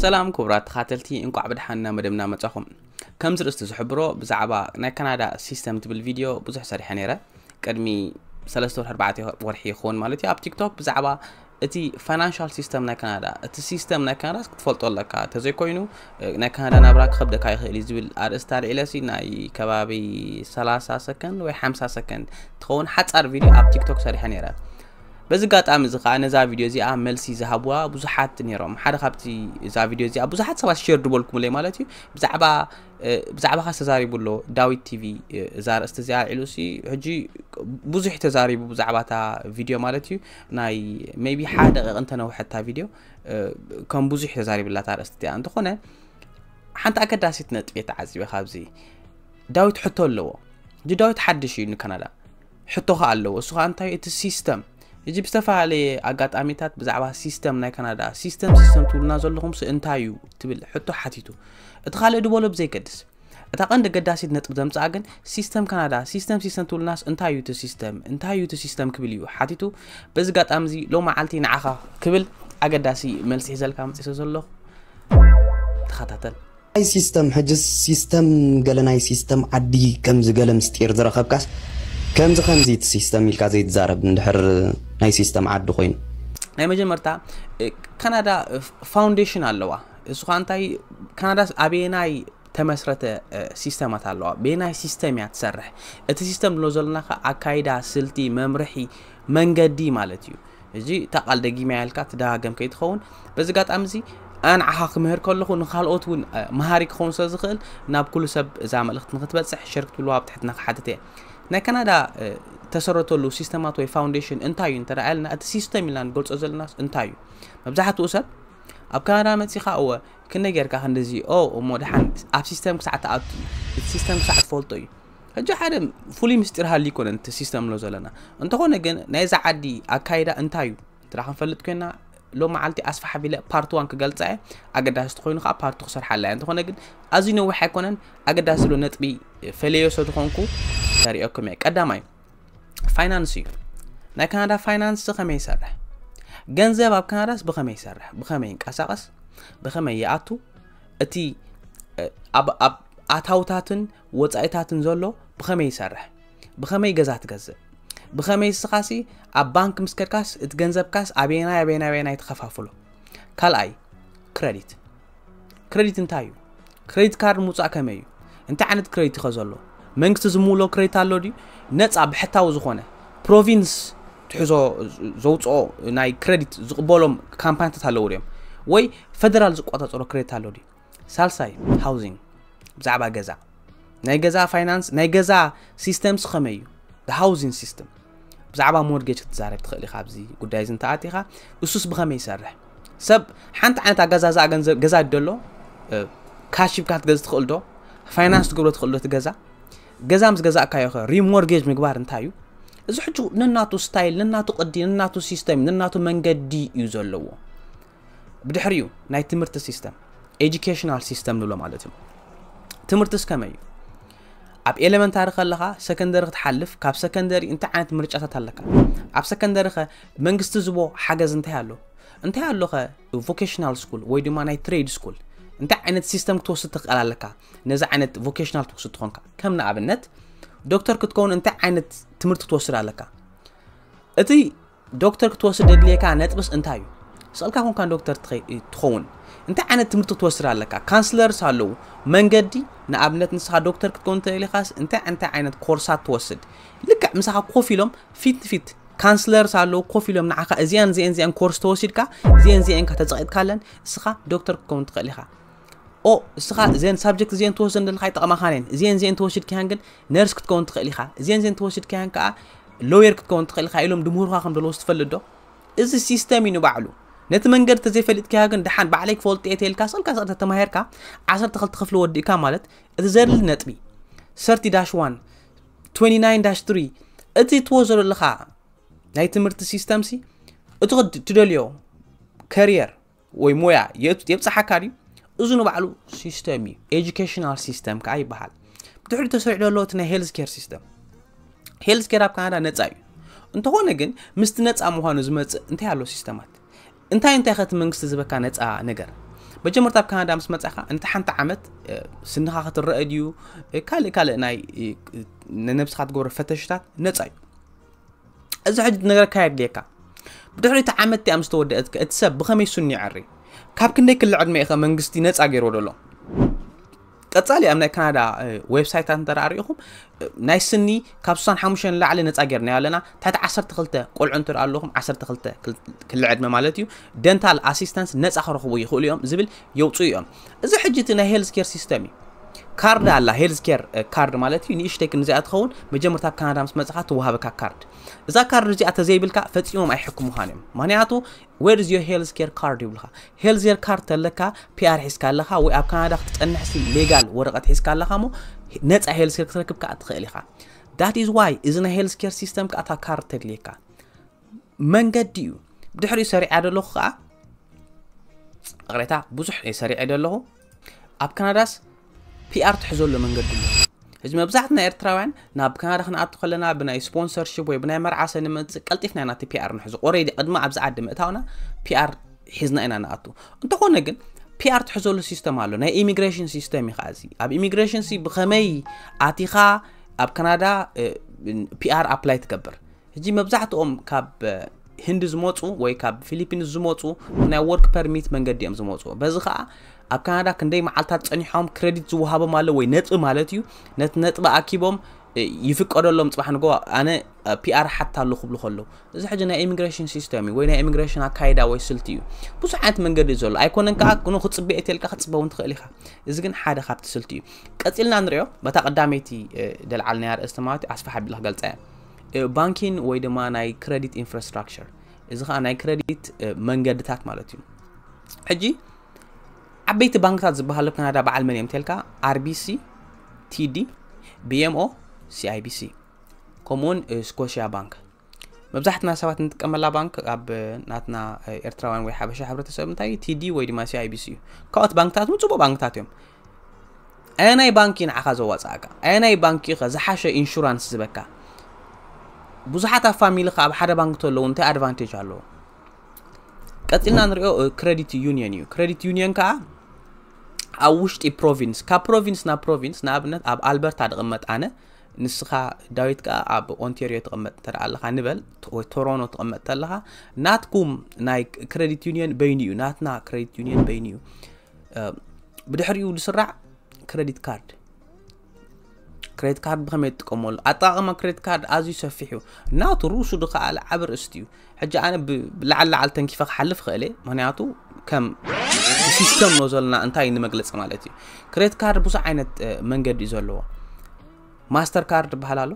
ሰላም ክቡራት ተኻተልቲ እንቋዕ ብድሓን ናብ መደብና መጻኹም ከም ዝርእስቲ ዝሕብሮ ብዛዕባ ናይ ካናዳ ሲስተም ትብል ቪድዮ ብዙሕ ሰሪሐ ነይረ ቅድሚ ሰለስተ ወርሒ ኣርባዕተ ወርሒ ይኸውን ማለት እዩ ኣብ ቲክቶክ ብዛዕባ እቲ ፋይናንሻል ሲስተም ናይ ካናዳ እቲ ሲስተም ናይ ካናዳ ክትፈልጦ ኣለካ እንተዘይኮይኑ ናይ ካናዳ ናብራ ክኸብደካ ይኽእል እዩ ዝብል ኣርእስቲ ኣልዒለሲ ናይ ከባቢ 30 ሰከንድ ወይ 50 ሰከንድ ትኸውን ሓፃር ቪድዮ ኣብ ቲክቶክ ሰሪሐ ነይረ በዚ ኣጋጣሚ እዚ ከኣ ነዛ ቪድዮ እዚኣ መልሲ ዝሃብዋ ብዙሓት ነይሮም ሓደ ካብቲ እዛ ቪድዮ እዚኣ ብዙሓት ሰባት ሼር ድበልኩምለይ ማለት እዩ ብዛዕባ ብዛዕባኻ ዝተዛሪቡ ኣሎ ዳዊት ቲቪ እዛ ርእስቲ እዚኣ ኣልዒሉ ሲ ሕጂ ብዙሕ ተዛሪቡ ብዛዕባ እታ ቪድዮ ማለት እዩ ናይ ሜቢ ሓደ ደቂቕ እንተነውሐታ ቪድዮ ከም ብዙሕ ተዛሪብላ እታ ርእስቲ እዚኣ እንተኾነ ሓንቲ ኣገዳሲት ነጥቢ ተዓዚበ ካብዚ ዳዊት ሕቶ ኣለዎ እዚ ዳዊት ሓድሽ እዩ ንካናዳ ሕቶ ከኣ ኣለዎ እሱ ከኣ እንታይ እቲ ሲስተም እጂ ብዝተፈላለየ ኣጋጣሚታት ብዛዕባ ሲስተም ናይ ካናዳ ሲስተም ሲስተም ትብሉና ዘለኹምስ እንታይ እዩ ትብል ሕቶ ሓቲቱ እቲ ካልእ ድበሎ ብዘይገድስ እታ ቀንዲ ገዳሲት ነጥብ ዘምጽኣ ግን ሲስተም ካናዳ ሲስተም ሲስተም ትብልናስ እንታይ እዩ እቲ ሲስተም እንታይ እዩ እቲ ሲስተም ክብል እዩ ሓቲቱ በዚ ጋጣሚ እዚ ሎ መዓልቲ ንዓኻ ክብል ኣገዳሲ መልሲ ሒዘልካ መፅሰ ዘለኹ ተኸታተል ኣይ ሲስተም ሕጅስ ሲስተም ገለ ናይ ሲስተም ዓዲ ከምዚ ገለ ምስጢር ዝረኸብካስ ከምዚ ከምዚ እቲ ሲስተም ኢልካ ዘይትዛረብ እንድሕር ናይ ሲስተም ዓዲ ኮይኑ። ናይ መጀመርታ ካናዳ ፋውንዴሽን ኣለዋ እሱ ኸዓ እንታይ ካናዳስ ኣበየናይ ተመስረተ ሲስተማት ኣለዋ ብናይ ሲስተም እያ ትሰርሕ እቲ ሲስተም ድሎ ዘለና ከ ኣካይዳ ስልቲ መምርሒ መንገዲ ማለት እዩ እዚ እታ ቃል ደጊመያ ኢልካ ትደጋገም ከይትኸውን በዚ ኣጋጣሚ እዚ ኣነ ንዓኻ ክምህር ከለኹ ንካልኦት እውን መሃሪ ክኸውን ስለ ዝኽእል ናብ ኩሉ ሰብ እዛ መልእኽቲ ንክትበፅሕ ሸር ክትብልዋ ኣብ ትሕትና ክሓትት እየ ናይ ካናዳ ተሰረተሉ ሲስተማት ወይ ፋውንዴሽን እንታይ እዩ እንተ ኢልና እቲ ሲስተም ኢልና ንገልፆ ዘለናስ እንታይ እዩ መብዛሕትኡ ሰብ ኣብ ካናዳ መፂኻ እወ ክንደይ ጌርካ ክንዲዚ ኦ እሞ ድሓን ኣብ ሲስተም ክሳዕ ትኣቱ እቲ ሲስተም ክሳዕ ትፈልጦ እዩ ሕጂ ሓደ ፍሉይ ምስጢር ሃሊ ይኮነን እቲ ሲስተም ኣሎ ዘለና እንተኾነ ግን ናይዛ ዓዲ ኣካይዳ እንታይ እዩ እንተ ክንፈልጥ ኮይና ሎ መዓልቲ ኣስፋሕ ቢለ ፓርቲ ዋን ክገልፃ እየ ኣገዳሲ ተኮይኑ ከዓ ፓርቲ ክሰርሓላ እያ እንተኾነ ግን ኣዝዩ ነዊሕ ኣይኮነን ኣገዳሲ ብሎ ነጥቢ ፈለዮ ሰ ዝኾንኩ ተሪኦኩም እየ ቀዳማይ ፋይናንስ እዩ ናይ ካናዳ ፋይናንስ ከመይ ይሰርሕ ገንዘብ ኣብ ካናዳስ ብኸመይ ይሰርሕ ብኸመይ ይንቀሳቐስ ብኸመይ ይኣቱ እቲ ኣብ ኣታውታትን ወጻኢታትን ዘሎ ብኸመይ ይሰርሕ? ብኸመይ ገዛ ትገዝእ? ብኸመይ እስኻሲ ኣብ ባንክ ምስ ከድካስ እቲ ገንዘብካስ ኣበየናይ ኣበየናይ ኣበየናይ ተኸፋፍሎ? ካልኣይ ክረዲት ክረዲት እንታይ እዩ? ክረዲት ካርድ ምውፃእ ከመይ እዩ? እንታይ ዓይነት ክረዲት ይኸ ዘሎ? መንግስቲ ዝምውሎ ክረዲት ኣሎ ድዩ? ነፃ ብሕታዊ ዝኾነ ፕሮቪንስ ትሕዞ ዘውፅኦ ናይ ክረዲት ዝቕበሎም ካምፓኒታት ኣለዉ ድዮም ወይ ፈደራል ዝቆፃፀሮ ክረዲት ኣሎ ድዩ ሳልሳይ ሃውዚንግ ብዛዕባ ገዛ ናይ ገዛ ፋይናንስ ናይ ገዛ ሲስተምስ ከመይ እዩ ሃውዚን ሲስተም ብዛዕባ ሞርጌጅ ክትዛረብ ትኽእል ኢኻ ኣብዚ ጉዳይ እዚ እንተኣቲኻ እሱስ ብኸመይ ይሰርሕ ሰብ ሓንቲ ዓይነት ኣገዛዝኣ ገንዘብ ገዛ ደሎ ካሽ ሂብካ ክትገዝ ትኽእል ዶ ፋይናንስ ትገብሮ ትኽእል ዶ እቲ ገዛ ገዛ ምስ ገዛእካዮ ኸ ሪሞርጌጅ ምግባር እንታይ እዩ እዚ ሕጂ ነናቱ ስታይል ነናቱ ቅዲ ነናቱ ሲስተም ነናቱ መንገዲ እዩ ዘለዎ ብድሕሪኡ ናይ ትምህርቲ ሲስተም ኤጁኬሽናል ሲስተም ንብሎ ማለት እዩ ትምህርትስ ከመይ እዩ ኣብ ኤሌመንታሪ ከለኻ ሰከንደሪ ክትሓልፍ ካብ ሰከንደሪ እንታይ ዓይነት ምርጫታት ኣለካ ኣብ ሰከንደሪ ኸ መንግስቲ ዝቦ ሓገዝ እንታይ ኣሎ እንታይ ኣሎ ኸ ቮኬሽናል ስኩል ወይ ድማ ናይ ትሬድ ስኩል እንታይ ዓይነት ሲስተም ክትወስድ ትኽእል ኣለካ ነዚ ዓይነት ቮኬሽናል ትወስድ ትኾንካ ከም ንኣብነት ዶክተር ክትከውን እንታይ ዓይነት ትምህርቲ ክትወስድ ኣለካ እቲ ዶክተር ክትወስድ ደድልየካ ነጥብስ እንታይ እዩ ስቅልካ ኮንካ ዶክተር ትከውን እንታይ ዓይነት ትምህርቲ ክትወስድ ኣለካ ካንስለርስ ኣለዉ መንገዲ ንኣብነት ንስካ ዶክተር ክትከውን ተደሊካስ እንታይ እንታይ ዓይነት ኮርሳት ትወስድ ልክዕ ምሳካ ኮፍ ኢሎም ፊት ንፊት ካንስለርስ ኣለዉ ኮፍ ኢሎም ንዓኻ እዚኣን እዚአን እዚኣን ኮርስ ተወሲድካ እዚአን እዚአን ኢንካ ተጸቂጥካለን እስኻ ዶክተር ክትከውን ትኽእል ኢኻ ኦ እስኻ እዘን ሳብጀክት እዚኤን ትወስደን ዘለካ ይጠቕማኻን እየን እዚኤን እዚኤን ተወሲድካያን ግን ነርስ ክትከውን ትኽእል ኢኻ እዚኤን እዚኤን ተወሲድካያን ከዓ ሎየር ክትከውን ትኽእል ኢኻ ኢሎም ድምህሩኻ ከም ዘለዎስ ትፈልጥ ዶ እዚ ሲስተም እዩ ንባዕሉ ነቲ መንገዲ ተዘይፈሊጥካዮ ግን ድሓን ባዕለይ ክፈልጦ እየ ተልካ ሰልካ ሰ ተተማሂርካ ዓሰርተ ክልተ ክፍሊ ወዲእካ ማለት እቲ ዘድሊ ነጥቢ ሰርቲ ዳሽ ዋን 29 ዳሽ 3 እቲ ትወስዶ ዘለኻ ናይ ትምህርቲ ሲስተም ሲ እቲ ትደልዮ ከሪየር ወይ ሞያ የብፅሓካ ድዩ እዚ ንባዕሉ ሲስተም እዩ ኤጁኬሽናል ሲስተም ከዓ ይበሃል ብድሕሪ ተሰሪዑ ዘሎ እቲ ናይ ሄልዝ ኬር ሲስተም ሄልዝ ኬር ኣብ ካናዳ ነፃ እዩ እንተኾነ ግን ምስቲ ነፃ ምዃኑ ዝመፅእ እንታይ ኣሎ ሲስተማት እንታይ እንታይ ከቲ መንግስቲ ዝበካ ነፃ ነገር መጀመርታ ኣብ ካናዳ ምስ መፃኻ ነቲ ሓንቲ ዓመት ስንኻ ክትረአ ድዩ ካልእ ካልእ ናይ ንነብስኻ ትገብሮ ፈተሽታት ነፃ እዩ እዚ ሕጂ ነገርካ የድልየካ ብድሕሪ እቲ ዓመት እቲኣ ምስ ተወደአት ከ እቲ ሰብ ብኸመይ ስኑ ይዐሪ ካብ ክንደይ ክሊ ዕድመ ኢኸ መንግስቲ ነፃ ገይርዎ ደሎ ቀጻሊ ኣብ ናይ ካናዳ ዌብሳይታት እንተ ርኢኹም ናይ ስኒ ካብ 65 ንላዕሊ ነፃ ጌርናዮ ኣለና ታሕቲ 12 ቆልዑ እንተ ኣለኹም 12 ክሊ ዕድመ ማለት እዩ ደንታል ኣሲስታንስ ነፃ ክረኽቡ ይኽእሉ እዮም ዝብል የውፅኡ እዮም እዚ ሕጂ እቲ ናይ ሄልዝ ኬር ሲስተም እዩ ካርድ ኣላ ሄልዝ ኬር ካርድ ማለት እዩ ንእሽተይ ክንዚኣ ትኸውን መጀመርታ ኣብ ካናዳ ምስ መፅኻ ትወሃበካ ካርድ እዛ ካርድ እዚኣ ተዘይብልካ ፈፂሞም ኣይሕክሙኻን እዮም ምክንያቱ ዌር ዝ ሄልዝ ኬር ካርድ ይብልካ ሄልዝ ኬር ካርድ ተለካ ፒኣር ሒዝካ ኣለኻ ወይ ኣብ ካናዳ ክትፀንሕሲ ሌጋል ወረቐት ሒዝካ ኣለኻ ሞ ነፃ ሄልዝ ኬር ክትረክብ ከዓ ትኽእል ኢኻ ዳት ኢዝ ዋይ እዚ ናይ ሄልዝ ኬር ሲስተም ከዓ እታ ካርድ ተድልየካ መንገዲ እዩ ድሕሪኡ ሰሪዓ ደለኹ ከዓ ይቕሬታ ብዙሕ እየ ሰሪዐ ደለኹ ኣብ ካናዳስ ፒኣር ትሕዘሉ መንገዲ ኣሎ እዚ መብዛሕትና ኤርትራውያን ናብ ካናዳ ክንኣቱ ከለና ብናይ ስፖንሰርሽፕ ወይ ብናይ መርዓሰ ንመፅእ ቀልጢፍና ኢና እቲ ፒኣር ንሕዙ ኦረዲ ቅድሚ ኣብዚ ዓዲ ምእታውና ፒኣር ሒዝና ኢና ንኣቱ እንተኾነ ግን ፒኣር ትሕዘሉ ሲስተም ኣሎ ናይ ኢሚግሬሽን ሲስተም እዩ ከዓ እዚ ኣብ ኢሚግሬሽን ሲ ብኸመይ ኣቲኻ ኣብ ካናዳ ፒኣር ኣፕላይ ትገብር ሕጂ መብዛሕትኦም ካብ ህንዲ ዝመፁ ወይ ካብ ፊሊፒንስ ዝመፁ ብናይ ወርክ ፐርሚት መንገዲ እዮም ዝመፁ በዚ ከዓ ኣብ ካናዳ ክንደይ መዓልታት ፀኒሖም ክሬዲት ዝወሃቦም ኣሎ ወይ ነጥቢ ማለት እዩ ነቲ ነጥቢ ኣኪቦም ይፍቀደሎም ፅባሕ ንጎ ኣነ ፒኣር ሓታ ኣሎ ክብሉ ከለዉ እዚ ሕጂ ናይ ኢሚግሬሽን ሲስተም እዩ ወይ ናይ ኢሚግሬሽን ኣካይዳ ወይ ስልቲ እዩ ብዙሕ ዓይነት መንገዲ እዩ ዘሎ ኣይኮነን ከዓ ን ክፅበ እትልካ ክፅበ እውን ትኽእል ኢኻ እዚ ግን ሓደ ካብቲ ስልቲ እዩ ቀፂልና ንሪኦ በታ ቀዳመይቲ ደልዓልናያ ርእስቲ ማለት ኣስፋሕ ኣቢልካ ገልፃ እያ ባንኪን ወይ ድማ ናይ ክረዲት ኢንፍራስትራክቸር እዚ ከዓ ናይ ክረዲት መንገድታት ማለት እዩ ሕጂ ዓበይቲ ባንክታት ዝበሃሉ ካናዳ በዓል መን እዮም ተልካ ኣርቢሲ ቲዲ ቢኤምኦ ሲኣይቢሲ ከምኡውን ስኮሽያ ባንክ መብዛሕትና ሰባት እንጥቀመላ ባንክ ኣብ ናትና ኤርትራውያን ወይ ሓበሻ ሕብረተሰብ እንታይ ቲዲ ወይ ድማ ሲኣይቢሲ እዩ ካልኦት ባንክታት እውን ፅቡቅ ባንክታት እዮም ኣየናይ ባንክ እዩ ንዓኻ ዘዋጽኣካ? ኣየናይ ባንክ እዩ ከ ዝሓሸ ኢንሹራንስ ዝበካ? ብዙሓት ኣብ ፋሚሊኻ ኣብ ሓደ ባንክ ተለዉ እንታይ ኣድቫንቴጅ ኣለዎ? ቀጺልና ንሪኦ ክሬዲት ዩኒየን እዩ። ክሬዲት ዩኒየን ከዓ ኣብ ውሽጢ ፕሮቪንስ ካብ ፕሮቪንስ ናብ ፕሮቪንስ ንኣብነት ኣብ ኣልበርታ ድቕመጥ ኣነ ንስኻ ዳዊት ከዓ ኣብ ኦንቴሪዮ ትቕመጥ እንተ ኣለኻ ንበል ወይ ቶሮኖ ትቕመጥ ተለኻ ናትኩም ናይ ክሬዲት ዩኒየን በይኑ እዩ ናትና ክሬዲት ዩኒየን በይኑ እዩ ብድሕሪኡ ዝስራዕ ክረዲት ካርድ ክሬዲት ካርድ ብኸመይ ትጥቀመሉ ኣጠቃቅማ ክሬዲት ካርድ ኣዝዩ ሰፊሕ እዩ ናቱ ርእሱ ድኸኣለ ዓብ ርእስቲ እዩ ሕጂ ኣነ ብላዓል ላዓል ተንኪፈ ክሓልፍ ክእል እየ ምክንያቱ ከም ሲስተም ኖ ዘለና እንታይ ንመግለፂ ማለት እዩ ክሬዲት ካርድ ብዙሕ ዓይነት መንገዲ እዩ ዘለዎ ማስተር ካርድ ይበሃል ኣሎ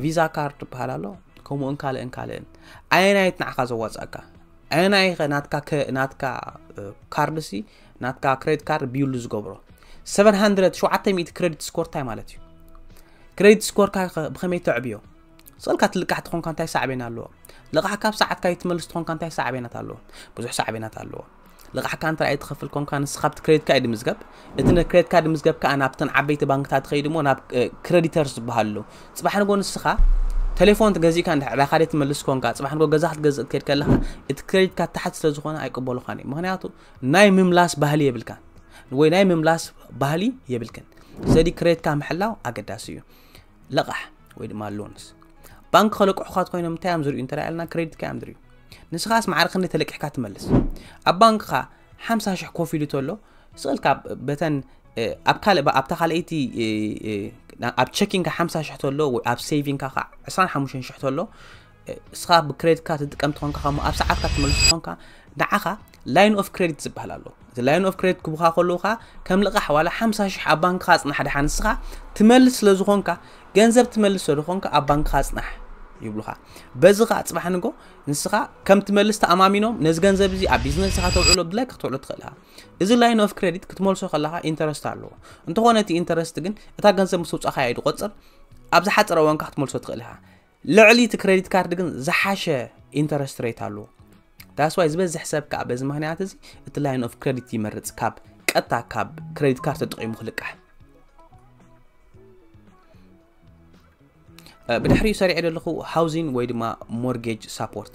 ቪዛ ካርድ ይበሃል ኣሎ ከምኡን ካልእን ካልእን ኣየናየት ንዓኻ ዘዋፅኣካ ኣየናይኸ ናትካ ናትካ ካርድሲ ናትካ ክሬዲት ካርድ ብዩሉ ዝገብሮ 700 700 ክሬዲት ስኮር እንታይ ማለት እዩ ክሬዲት ስኮርካ ብኸመይ ተዕብዮ ስእልካ ትልቃሕ ትኾንካ እንታይ ሳዕቤን ኣለዎ ልቓሕ ካብ ሰዓትካ ይትመልስ ትኾንካ እንታይ ሳዕቤናት ኣለዎ ብዙሕ ሳዕቤናት ኣለዎ ልቓሕካ እንተ ኣይትኸፍል ኮንካ ንስኻ ብቲ ክሬዲትካ እዩ ድምዝገብ እቲ ን ክሬዲት ካርድ ምዝገብ ከኣ ናብተን ዓበይቲ ባንክታት ትኸይድ እሞ ናብ ክሬዲተርስ ዝበሃሉ ኣለዉ ጽባሕ ንጎ ንስኻ ቴሌፎን ተገዚእካ እንድሕር ዕዳኻ ደይ ትመልስ ኮንካ ጽባሕ ንጎ ገዛ ክትገዝእ ክትከድ ከለኻ እቲ ክሬዲት ካርድ ታሕቲ ስለ ዝኾነ ኣይቅበሉኻን እዩ ምክንያቱ ናይ ምምላስ ባህሊ የብልካን ወይ ናይ ምምላስ ባህሊ የብልክን ስለዚ ክሬዲትካ ምሕላው ኣገዳሲ እዩ ለቓሕ ወይ ድማ ሎንስ ባንክ ከለቅሑካ ኮይኖም እንታይ እዮም ዝርዩ እንተ ኢልና ክሬዲትካ እዮም ዝርዩ ንስኻስ ማዕረ ክንደይ ተለቂሕካ ትመልስ ኣብ ባንክኻ ሓምሳ ሽሕ ኮፍ ኢሉ ተሎ ስእል ካብ በተን ኣብ ካልእ ኣብታ ካልኣይቲ ኣብ ቸኪንካ ሓምሳ ሽሕ ተሎ ወይ ኣብ ሴቪንካ ከዓ ዕስራን ሓሙሽተን ሽሕ ተሎ እስኻ ብክሬዲት ካርድ ትጥቀም ትኾንካ ከምኡ ኣብ ሰዓትካ ትመልስ ትኾንካ ንዓኻ ላይን ኦፍ ክሬዲት ዝበሃል ኣሎ እቲ ላይን ኦፍ ክሬዲት ክቡካ ከለዉ ከዓ ከም ልቓሕ ዋላ ሓምሳ ሽሕ ኣብ ባንክኻ ፅናሕ ድሓ ንስኻ ትመልስ ስለ ዝኾንካ ገንዘብ ትመልስ ስለ ዝኾንካ ኣብ ባንክኻ ፅናሕ ይብሉኻ በዚ ከዓ ፅባሕ ንጎ ንስኻ ከም ትመልስ ተኣማሚኖም ነዚ ገንዘብ እዚ ኣብ ቢዝነስኻ ተውዕሎ ድላይ ክትውዕሎ ትኽእል ኢኻ እዚ ላይን ኦፍ ክሬዲት ክትመልሶ ከለኻ ኢንተረስት ኣለዎ እንተኾነ እቲ ኢንተረስት ግን እታ ገንዘብ ምስ ውፃኻ እዩ ድቆፅር ኣብ ዝሓፀረ እዋንካ ክትመልሶ ትኽእል ኢኻ ልዕሊ እቲ ክሬዲት ካርድ ግን ዝሓሸ ኢንተረስት ሬት ኣለዎ ዳስዋይ ዝበዝሕ ሰብ ከዓ በዚ ምክንያት እዚ እቲ ላይን ኦፍ ክሬዲት ይመርፅ ካብ ቀጥታ ካብ ክሬዲት ካርድ ተጠቂሙ ክልቃሕ ብድሕሪኡ ሰሪዐ ዘለኹ ሃውዚን ወይ ድማ ሞርጌጅ ሳፖርት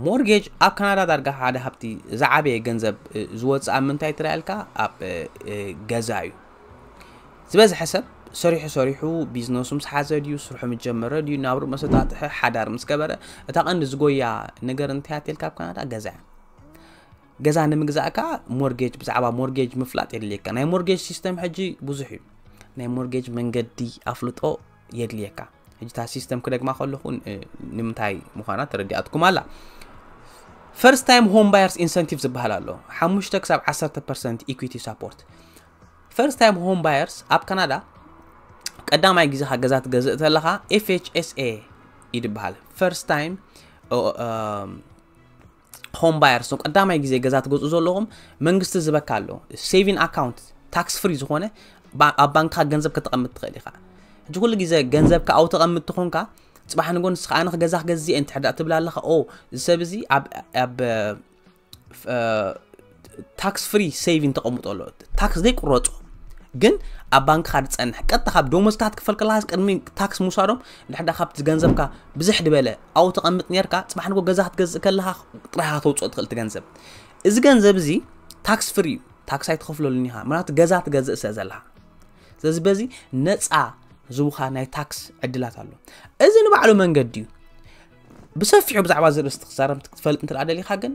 ሞርጌጅ ኣብ ካናዳ ዳርጋ ሓደ ሃብቲ ዝዓበየ ገንዘብ ዝወፅእ ኣብ ምንታይ ትረኣልካ ኣብ ገዛ እዩ ዝበዝሐ ሰብ ሰሪሑ ሰሪሑ ቢዝነሱ ምስ ሓዘ ድዩ ስርሑ ምስ ጀመረ ድዩ ናብሩ መሰጣጥሐ ሓዳር ምስ ገበረ እታ ቀንዲ ዝጎያ ነገር እንታይ ኣትልካ ኣብ ካናዳ ገዛ እያ ገዛ ንምግዛእ ከኣ ሞርጌጅ ብዛዕባ ሞርጌጅ ምፍላጥ የድልየካ ናይ ሞርጌጅ ሲስተም ሕጂ ብዙሕ እዩ ናይ ሞርጌጅ መንገዲ ኣፍልጦ የድልየካ ሕጂ እታ ሲስተም ክደግማ ከለኹ ንምንታይ ምዃና ተረዲኣትኩም ኣላ ፈርስት ታይም ሆም ባየርስ ኢንሰንቲቭ ዝበሃል ኣሎ ሓሙሽተ ክሳብ 1 ፐርሰንት ኢኩዊቲ ሳፖርት ፈርስት ታይም ሆም ባየርስ ኣብ ካናዳ ቀዳማይ ግዜኻ ገዛ ትገዝእ ተለኻ ኤፍኤችኤስኤ ይድበሃል ፈርስት ታይም ሆም ባየርስ እቶም ቀዳማይ ግዜ ገዛ ትገዝኡ ዘለኹም መንግስቲ ዝበካ ኣሎ ሴቪን ኣካውንት ታክስ ፍሪ ዝኾነ ኣብ ባንክካ ገንዘብ ከተቐምጥ ትኽእል ኢኻ ሕጂ ኩሉ ግዜ ገንዘብካ ኣብኡ ተቐምጥ ትኾንካ ፅባሕ ንጎ ንስኻ ኣነ ገዛ ክገዝእ እየ እንድሕር ትብል ኣለኻ ኦ እዚ ሰብ እዚ ኣብ ታክስ ፍሪ ሴቪን ተቐምጦ ኣሎ ታክስ ዘይቁረፆ ግን ኣብ ባንክኻ ዝፀንሕ ቀጥታ ካብ ደሞዝካ ክትክፈል ከለካስ ቅድሚ ታክስ ምውሳዶም ድሕዳ ካብቲ ገንዘብካ ብዝሕ ድበለ ኣብኡ ተቐምጥ ነርካ ፅባሕ ንጎ ገዛ ክትገዝእ ከለካ ጥራይካ ተውፅኦ ትኽእል እቲ ገንዘብ እዚ ገንዘብ እዚ ታክስ ፍሪ እዩ ታክስ ኣይትኸፍለሉን ኢኻ ምክንያቱ ገዛ ትገዝእ ስለ ዘለካ ስለዚ በዚ ነፃ ዝውኻ ናይ ታክስ ዕድላት ኣሎ እዚ ንባዕሉ መንገዲ እዩ ብሰፊሑ ብዛዕባ እዚ ርእስቲ ክዛረብ ክትፈልጥ እንትደኣ ደሊኻ ግን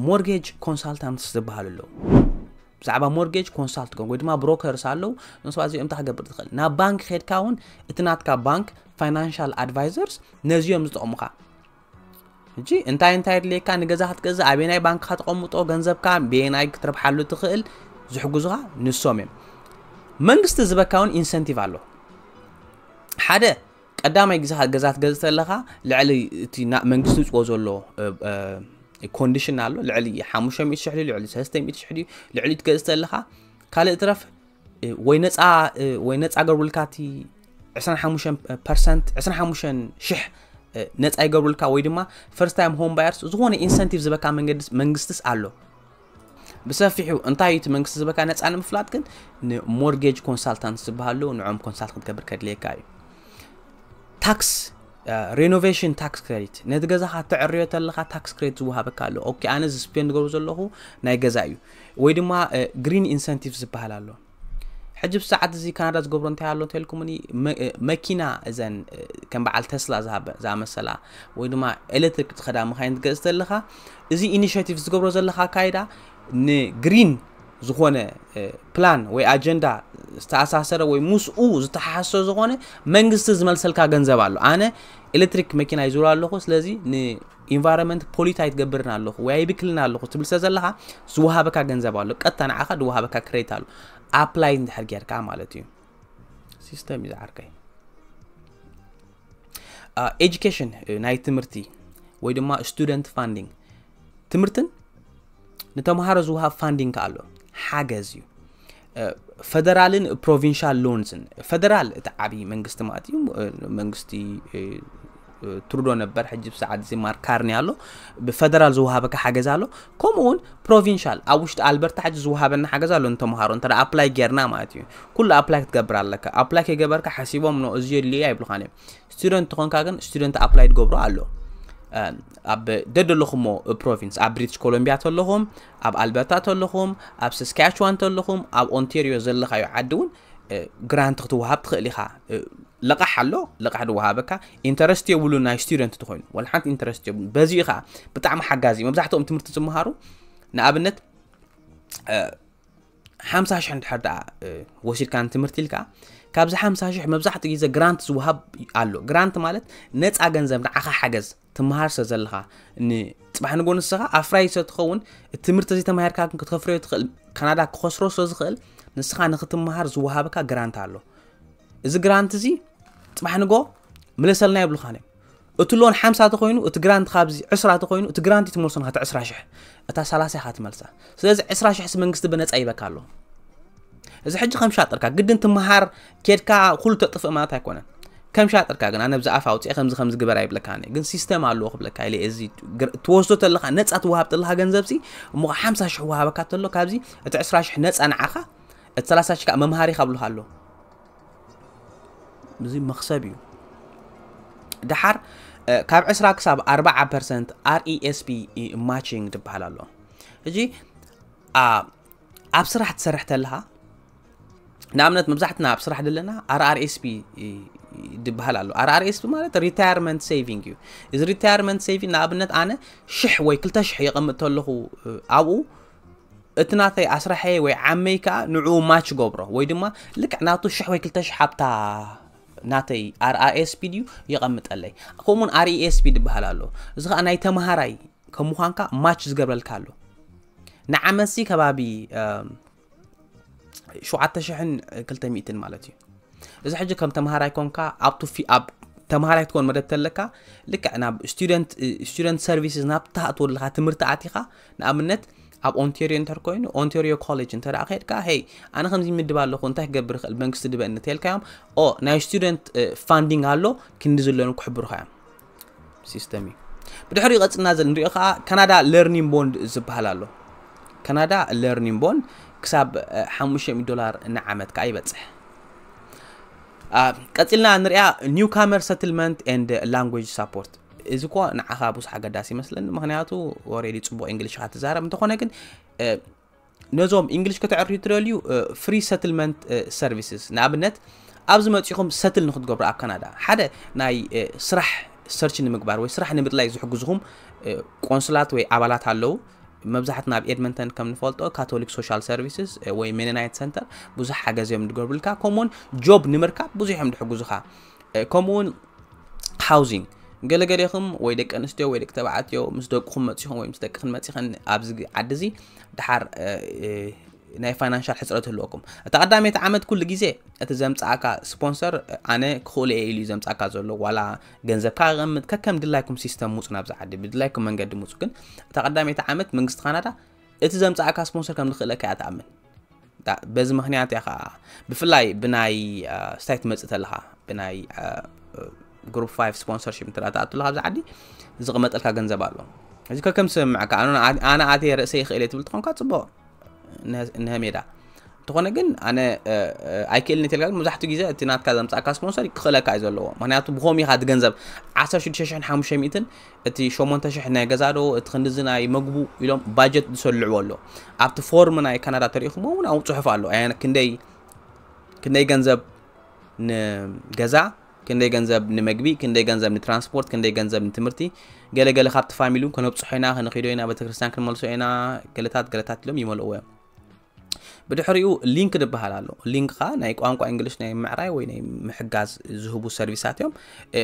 ሞርጌጅ ኮንሳልታንትስ ዝበሃሉ ኣለዉ ብዛዕባ ሞርጌጅ ኮንሳልት ወይ ድማ ብሮከርስ ኣለዉ ንስባት እዚኦም እንታይ ክገብር ትኽእል ናብ ባንክ ከድካ እውን እቲ ናትካ ባንክ ፋይናንሻል ኣድቫይዘርስ ነዚኦም ዝጠቕሙኻ እጂ እንታይ እንታይ ድልየካ ንገዛ ክትገዝእ ኣበየናይ ባንክ ከተቐምጦ ገንዘብካ በየናይ ክትረብሓሉ ትኽእል ዝሕግዙኻ ንሶም እዮም መንግስቲ ዝበካ እውን ኢንሰንቲቭ ኣሎ ሓደ ቀዳማይ ግዜኻ ገዛ ትገዝእ ተለኻ ልዕሊ እቲ ናብ መንግስቲ ዝውፅኦ ዘሎ ኮንዲሽን ኣሎ ልዕሊ ሓሙሽተ ሚእቲ ሽሕ ድዩ ልዕሊ ሰለስተ ሚእቲ ሽሕ ድዩ ልዕሊ ትገዝእ ተለኻ ካልእ ትረፍ ወይ ነፃ ወይ ነፃ ገርብልካ እቲ 25 ፐርሰንት 25 ሽሕ ነፃ ይገብሩልካ ወይ ድማ ፈርስት ታይም ሆም ባየርስ ዝኾነ ኢንሰንቲቭ ዝበካ መንግስቲስ ኣሎ ብሰፊሑ እንታይ እዩ እቲ መንግስቲ ዝበካ ነፃ ንምፍላጥ ግን ንሞርጌጅ ኮንሳልታንት ዝበሃሉ ንዖም ኮንሳልት ክትገብር ከድልየካ እዩ ታክስ ሬኖቬሽን ታክስ ክሬዲት ነቲ ገዛኻ ተዕርዮ ተለኻ ታክስ ክሬዲት ዝወሃበካ ኣሎ ኦኬ ኣነ እዚ ስፔንድ ገብሩ ዘለኹ ናይ ገዛ እዩ ወይ ድማ ግሪን ኢንሰንቲቭ ዝበሃል ኣሎ ሕጂ ብ ሰዓት እዚ ካናዳ ዝገብሮ እንታይ ኣሎ እንተልኩምኒ መኪና እዘን ከም በዓል ተስላ ዝኣመሰላ ወይ ድማ ኤሌክትሪክ ዝኸዳ መካይን ትገዝእ ዘለኻ እዚ ኢኒሽቲቭ ዝገብሮ ዘለካ ኣካይዳ ንግሪን ዝኾነ ፕላን ወይ ኣጀንዳ ዝተኣሳሰረ ወይ ምስኡ ዝተሓሓሶ ዝኾነ መንግስቲ ዝመልሰልካ ገንዘብ ኣሎ ኣነ ኤሌክትሪክ መኪና ይዙር ኣለኹ ስለዚ ኢንቫይሮመንት ፖሊት ኣይትገብርን ኣለኹ ወይ ኣይብክልን ኣለኹ ትብል ስለ ዘለኻ ዝወሃበካ ገንዘብ ኣሎ ቀጥታ ንዓኻ ዝወሃበካ ክሬት ኣሎ ኣፕላይ እንድሕር ጌርካ ማለት እዩ ሲስተም እዩ ዝዓርከይ ኤጁኬሽን ናይ ትምህርቲ ወይ ድማ ስቱደንት ፋንዲንግ ትምህርትን ንተምሃሮ ዝውሃብ ፋንዲንግ ኣሎ ሓገዝ እዩ ፈደራልን ፕሮቪንሻል ሎንስን ፈደራል እቲ ዓብዪ መንግስቲ ማለት እዩ መንግስቲ ትሩዶ ነበር ሕጂ ብሰዓት እዚ ማርክ ካርኒ ኣሎ ብፈደራል ዝወሃበካ ሓገዝ ኣሎ ከምኡ እውን ፕሮቪንሻል ኣብ ውሽጢ ኣልበርታ ሕጂ ዝወሃበና ሓገዝ ኣሎ ንተምሃሮ እንተ ኣፕላይ ጌርና ማለት እዩ ኩሉ ኣፕላይ ክትገብር ኣለካ ኣፕላይ ከይገበርካ ሓሲቦም ን እዚ የድልየ ኣይብልኻን እዮም ስቱደንት ትኾንካ ግን ስቱደንት ኣፕላይ ትገብሮ ኣሎ ኣብ ደደለኹሞ ፕሮቪንስ ኣብ ብሪትሽ ኮሎምቢያ ተለኹም ኣብ ኣልበርታ ተለኹም ኣብ ሰስካያችዋን ተለኹም ኣብ ኦንቴርዮ ዘለኻዮ ዓዲ እውን ግራንት ክትወሃብ ትኽእል ኢኻ ልቓሕ ኣሎ ልቓሕ ድወሃበካ ኢንተረስት የብሉ ናይ ስቱደንት ትኮይኑ ወላ ሓንቲ ኢንተረስት የብሉ በዚ እዩ ከዓ ብጣዕሚ ሓጋዚ መብዛሕትኦም ትምህርቲ ዝመሃሩ ንኣብነት ሓምሳ ሽሕ እንድሕር ደኣ ወሲድካ ንትምህርቲ ኢልካ ካብዚ ሓምሳ ሽሕ መብዛሕትኡ ግዜ ግራንት ዝውሃብ ኣሎ ግራንት ማለት ነፃ ገንዘብ ንዓኻ ሓገዝ ትመሃር ስለ ዘለኻ ንፅባሕ ንጎ ንስኻ ኣፍራይ ስለ ትኸውን እቲ ትምህርቲ እዚ ተማሂርካ ግን ክትከፍረዮ ትኽእል ካናዳ ክኸስሮ ስለ ዝኽእል ንስኻ ንክትመሃር ዝወሃበካ ግራንት ኣሎ እዚ ግራንት እዚ ፅባሕ ንጎ ምለሰልና የብልኻን እዮም እቲ ሎን ሓምሳ ተኮይኑ እቲ ግራንት ካብዚ ዕስራ ተኮይኑ እቲ ግራንት ትመልሶ ናት ዕስራ ሽሕ እታ ሰላሳ ኢኻ ትመልሳ ስለዚ ዕስራ ሽሕ ሲ መንግስቲ ብነፃ ይበካ ኣሎ እዚ ሕጂ ከም ሻጥርካ ግድን ትመሃር ኬድካ ኩሉ ተጥፍእ ማለት ኣይኮነን ከም ሻጥርካ ግን ኣነ ብዛኣፍ ኣውፅኤ ከምዚ ከምዚ ግበር ኣይብለካኒ ግን ሲስተም ኣለዎ ክብለካ ኢለ እዚ ትወስዶ ተለካ ነፃ ትወሃብ ተለካ ገንዘብ ሲ እሞ ሓምሳ ሽሕ ወሃበካ ተሎ ካብዚ እቲ ዕስራ ሽሕ ነፃ ንዓኻ እቲ ሰላሳ ሽሕ ከዓ መምሃሪኻ ብልካ ኣሎ እዚ መኽሰብ እዩ ደሓር ካብ 20 ክሳብ 40 ፐርሰንት RESP ማቺንግ ዝበሃል ኣሎ ሕጂ ኣብ ስራሕ ትሰርሕ ተለኻ ንኣብነት መብዛሕትና ኣብ ስራሕ ዘለና RRSP ዝበሃል ኣሎ RRSP ማለት ሪታየርመንት ሴቪንግ እዩ እዚ ሪታየርመንት ሴቪንግ ንኣብነት ኣነ ሽሕ ወይ ክልተ ሽሕ የቐምጥ ተለኹ ኣብኡ እቲ ናተይ ኣስራሐይ ወይ ዓመይ ከኣ ንዕኡ ማች ይገብሮ ወይ ድማ ልክዕ ናቱ ሽሕ ወይ ክልተ ሽሕ ኣብታ ናተይ ኣርኣኤስፒ ድዩ የቐምጠለይ ከምኡውን ኣርኢኤስፒ ዝበሃል ኣሎ እዚ ከዓ ናይ ተምሃራይ ከም ምዃንካ ማች ዝገብረልካ ኣሎ ንዓመት ሲ ከባቢ 7200 ማለት እዩ እዚ ሕጂ ከም ተምሃራይ ኮንካ ኣብቱ ኣብ ተምሃራይ ክትኮን መደብ ተለካ ልክዕ ናብ ስቱደንት ሰርቪስስ ናብ ትሃእትወለካ ትምህርቲ ኣቲኻ ንኣብነት ኣብ ኦንቴርዮ እንተር ኮይኑ ኦንቴርዮ ኮሌጅ እንተ ከድካ ሄይ ኣነ ከምዚ ይምድብ ኣለኹ እንታይ ክገብር ይኽእል መንግስቲ ድበኒ እንተልካዮም ኦ ናይ ስቱደንት ፋንዲንግ ኣሎ ክንዲ ዝለኑ ክሕብሩኻ እዮም ሲስተም እዩ ብድሕሪኡ ቀፅልና ዘ ንሪኦ ከዓ ካናዳ ለርኒን ቦንድ ዝበሃል ኣሎ ካናዳ ለርኒን ቦንድ ክሳብ 500 ዶላር ንዓመት ከዓ ይበፅሕ ቀፂልና ንሪኣ ኒው ካመር ሰትልመንት ኤንድ ላንጉጅ ሳፖርት እዚ እኳ ንዓኻ ብዙሕ ኣገዳሲ ይመስለኒ ምክንያቱ ኦሬዲ ፅቡቅ እንግሊሽ ካ ትዛረብ እንተኾነ ግን ነዞም እንግሊሽ ከተዕርዩ ትደልዩ ፍሪ ሰትልመንት ሰርቪስስ ንኣብነት ኣብዚ መፂኹም ሰትል ንክትገብሩ ኣብ ካናዳ ሓደ ናይ ስራሕ ሰርች ንምግባር ወይ ስራሕ ንምድላይ ዝሕግዝኹም ቆንስላት ወይ ኣባላት ኣለዉ መብዛሕትና ኣብ ኤድመንተን ከም ንፈልጦ ካቶሊክ ሶሻል ሰርቪስስ ወይ ሜነናይት ሰንተር ብዙሕ ሓገዝ እዮም ዝገብሩልካ ከምኡውን ጆብ ንምርካብ ብዙሕ እዮም ዝሕግዙኻ ከምኡ ውን ሃውዚንግ ገለ ገሌኹም ወይ ደቂ ኣንስትዮ ወይ ደቂ ተባዕትዮ ምስ ደቅኹም መፂኹም ወይ ምስ ደቅኽን መፂኸን ኣብዚ ዓዲ እዚ ድሓር ናይ ፋይናንሻል ሕፅረት ህልወኩም እታ ቀዳመይቲ ዓመት ኩሉ ግዜ እቲ ዘምፃእካ ስፖንሰር ኣነ ክኽእሉ እየ ኢሉ ዘምፃእካ ዘሎ ዋላ ገንዘብካ ቀምጥ ከከም ድላይኩም ሲስተም ሙፁ ናብዚ ዓዲ ብድላይኩም መንገዲ ሙፁ ግን እታ ቀዳመይቲ ዓመት መንግስቲ ካናዳ እቲ ዘምፃእካ ስፖንሰር ከም ዝኽእለካ እያ ትኣምን በዚ ምክንያት እያ ከዓ ብፍላይ ብናይ ስታይ ትመፅእ ተለካ ብናይ ግሩፕ 5 ስፖንሰርሽፕ እንተ ትኣቱ ኣለካ ኣብዚ ዓዲ ዝቕመጠልካ ገንዘብ ኣሎ እዚ ከከም ስምምዕካ ኣነ ኣትየ ርእሰ ይኽእል እየ ትብል ትኾንካ ፅቡቅ ንሀ ሜዳ እንተኾነ ግን ኣነ ኣይክእልን እትልካ ግን መብዛሕትኡ ግዜ እቲ ናትካ ዘምፃእካ ስፖንሰር ክኽእለካ እዩ ዘለዎ ምክንያቱ ብኸምኡ ኢኻ እቲ ገንዘብ 16500 እቲ ሸሞንተ ሽሕ ናይ ገዛዶ እቲ ክንድዚ ናይ መግቡ ኢሎም ባጀት ዝሰልዕዎ ኣሎ ኣብቲ ፎርም ናይ ካናዳ ተሪኢኹሞ እውን ኣብኡ ፅሑፍ ኣሎ ክንደይ ክንደይ ገንዘብ ንገዛ ክንደይ ገንዘብ ንመግቢ ክንደይ ገንዘብ ንትራንስፖርት ክንደይ ገንዘብ ንትምህርቲ ገለገለ ካብቲ ፋሚሊ እውን ከነብፅሖ ኢና ከነኪዶ ኢና ቤተክርስትያን ክንመልሶ ኢና ገለታት ገለታት ኢሎም ይመልእዎ እዮም ብድሕሪኡ ሊንክ ድበሃል ኣሎ ሊንክ ከዓ ናይ ቋንቋ እንግሊሽ ናይ ምዕራይ ወይ ናይ ምሕጋዝ ዝህቡ ሰርቪሳት እዮም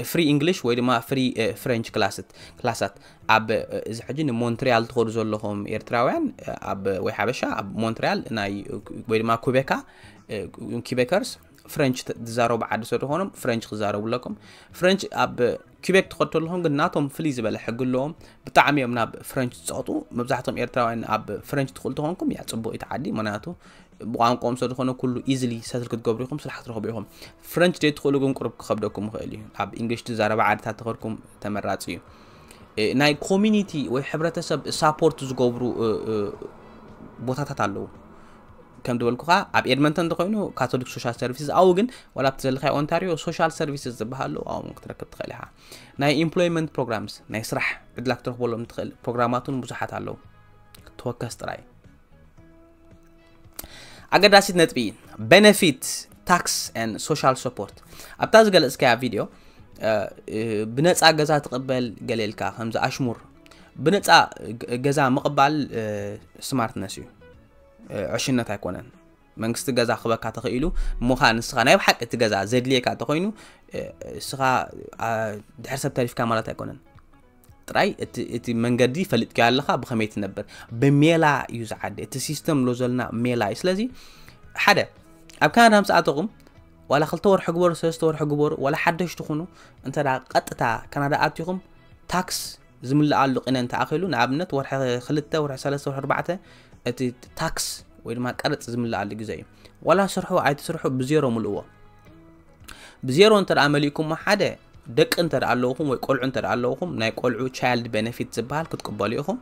ፍሪ እንግሊሽ ወይ ድማ ፍሪ ፍሬንች ክላስት ክላሳት ኣብ እዚ ሕጂ ንሞንትሪያል ትኸዱ ዘለኹም ኤርትራውያን ኣብ ወይ ሓበሻ ኣብ ሞንትሪያል ናይ ወይ ድማ ኩቤካ ኪቤከርስ ፍሬንች ዝዛረቡ ዓዲ ስለዝኾኖም ፍሬንች ክዛረቡ ኣለኩም ፍሬንች ኣብ ኪበክ ትኸድ ተለኹም ግን ናቶም ፍልይ ዝበለ ሕጊ ኣለዎም ብጣዕሚ እዮም ናብ ፍረንች ዝፀቕጡ መብዛሕቶም ኤርትራውያን ኣብ ፍረንች ትኽእሉ ተኾንኩም እያ ፅቡቅ እቲ ዓዲ ምክንያቱ ብቋንቋኦም ስለ ዝኾነ ኩሉ ኢዝሊ ሰትል ክትገብሩ ኢኹም ስራሕ ክትረኽቡ ኢኹም ፍረንች ደይ ትኽእሉ ግን ቁርብ ክኸብደኩም ይኽእል እዩ ኣብ እንግሊሽ ትዛረባ ዓድታት ተኸድኩም ተመራፂ እዩ ናይ ኮሚኒቲ ወይ ሕብረተሰብ ሳፖርት ዝገብሩ ቦታታት ኣለዉ ከም ዝበልኩኻ ኣብ ኤድመንተን እንተኮይኑ ካቶሊክ ሶሻል ሰርቪስስ ኣብኡ ግን ዋላ ኣብቲ ዘለካዮ ኦንታሪዮ ሶሻል ሰርቪስስ ዝበሃሉ ኣብኡ ክትረክብ ትኽእል ኢኻ ናይ ኢምፕሎይመንት ፕሮግራምስ ናይ ስራሕ ዕድላ ክትረክበሎም ትኽእል ፕሮግራማት እውን ብዙሓት ኣለዉ ተወከስ ጥራይ ኣገዳሲት ነጥቢ ቤነፊት ታክስ ን ሶሻል ሰፖርት ኣብታ ዝገለፅካያ ቪድዮ ብነፃ ገዛ ትቕበል ገሌልካ ከምዚ ኣሽሙር ብነፃ ገዛ ምቕባል ስማርትነስ እዩ ዕሽነት ኣይኮነን መንግስቲ ገዛ ክበካ ተኽኢሉ እሞኻ ንስኻ ናይ ብሓቂ እቲ ገዛ ዘድልየካ እንተኮይኑ እስኻ ድሕር ሰብ ተሪፍካ ማለት ኣይኮነን ጥራይ እቲ መንገዲ ፈልጥካ ኣለኻ ብኸመይ ትነብር ብሜላ እዩ ዝዓዲ እቲ ሲስተም ሎ ዘለና ሜላ እዩ ስለዚ ሓደ ኣብ ካናዳ ምስኣተኹም ዋላ ክልተ ወርሒ ግበሩ ሰለስተ ወርሒ ግበሩ ዋላ ሓደሽቲ ኩኑ እንተ ቀጥታ ካናዳ ኣትኹም ታክስ ዝምልኣሉ ቂነ እንተ ኣኺሉ ንኣብነት ወርሒ ክልተ ወርሒ ሰለስተ ወርሒ ኣርባዕተ እቲ ታክስ ወይ ድማ ቀረጽ ዝምልኣሉ ግዜ እዩ ዋላ ስርሑ ኣይትስርሑ ብዜሮ ምልእዎ ብዜሮ እንተ ደኣ መሊእኩሞ ሓደ ደቂ እንተ ደኣ ኣለውኹም ወይ ቆልዑ እንተ ደኣ ኣለውኹም ናይ ቆልዑ ቻይልድ ቤነፊት ዝበሃል ክትቅበሉ ኢኹም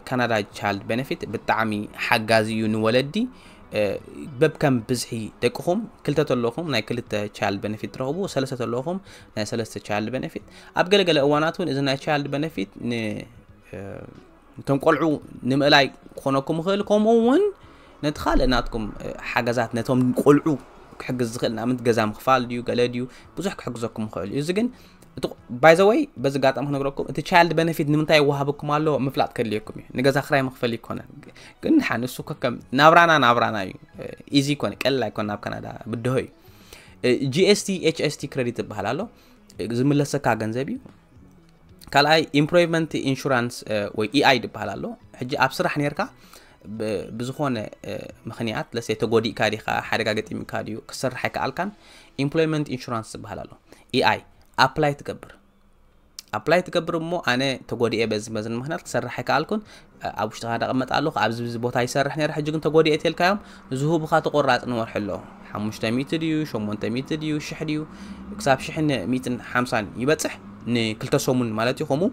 ካናዳ ቻይልድ ቤነፊት ብጣዕሚ ሓጋዚ እዩ ንወለዲ በብከም ብዝሒ ደቅኹም ክልተ ተለኹም ናይ ክልተ ቻይልድ ቤነፊት ትረኽቡ ሰለስተ ተለኹም ናይ ሰለስተ ቻይልድ ቤነፊት ኣብ ገለገለ እዋናት እውን እዚ ናይ ቻይልድ ቤነፊት እቶም ቆልዑ ንምእላይ ክኾነኩም ይኽእል ከምኡ እውን ነቲ ካልእ ናትኩም ሓገዛት ነቶም ቆልዑ ክሕግዝ ዝኽእል ንኣብነት ገዛ ምኽፋል ድዩ ገለ ድዩ ብዙሕ ክሕግዘኩም ይኽእል እዩ እዚ ግን እቲ ባይ ዘ ወይ በዚ ኣጋጣሚ ክነግረኩም እቲ ቻይልድ በነፊት ንምንታይ ይወሃበኩም ኣሎ ምፍላጥ ከድልየኩም እዩ ንገዛ ክራይ መክፈል ይኮነ ግን ድሓን ንሱ ከከም ናብራና ናብራና እዩ ኢዚ ኮነ ቀልል ኣይኮነ ናብ ካናዳ ብድሆ እዩ ጂኤስቲ ኤችኤስቲ ክሬዲት ዝበሃል ኣሎ ዝምለሰካ ገንዘብ እዩ ካልኣይ ኢምፕሮቭመንት ኢንሹራንስ ወይ ኢኣይ ዝበሃል ኣሎ ሕጂ ኣብ ስራሕ ነርካ ብዝኾነ ምክንያት ለሰ ተጎዲእካ ዲኻ ሓደጋ ገጢምካ ድዩ ክሰርሕ ኣይከኣልካን ኢምፕሎይመንት ኢንሹራንስ ዝበሃል ኣሎ ኢኣይ ኣፕላይ ትገብር ኣፕላይ ትገብር እሞ ኣነ ተጎዲኤ በዚ መዝን ምክንያት ክሰርሕ ኣይከኣልኩን ኣብ ውሽጢ ካናዳ ቅመጥ ኣለኹ ኣብዚ ቦታ ይሰርሕ ነረ ሕጂ ግን ተጎዲኤ እትልካዮም ዝሁብኻ ተቆራፂ ንወርሒ ኣለዉ ሓሙሽተ ሚእቲ ድዩ ሸሞንተ ሚእቲ ድዩ ሽሕ ድዩ ክሳብ ሽሕን ሚእትን ሓምሳን ይበፅሕ ንክልተ ሰሙን ማለት እዩ ከምኡ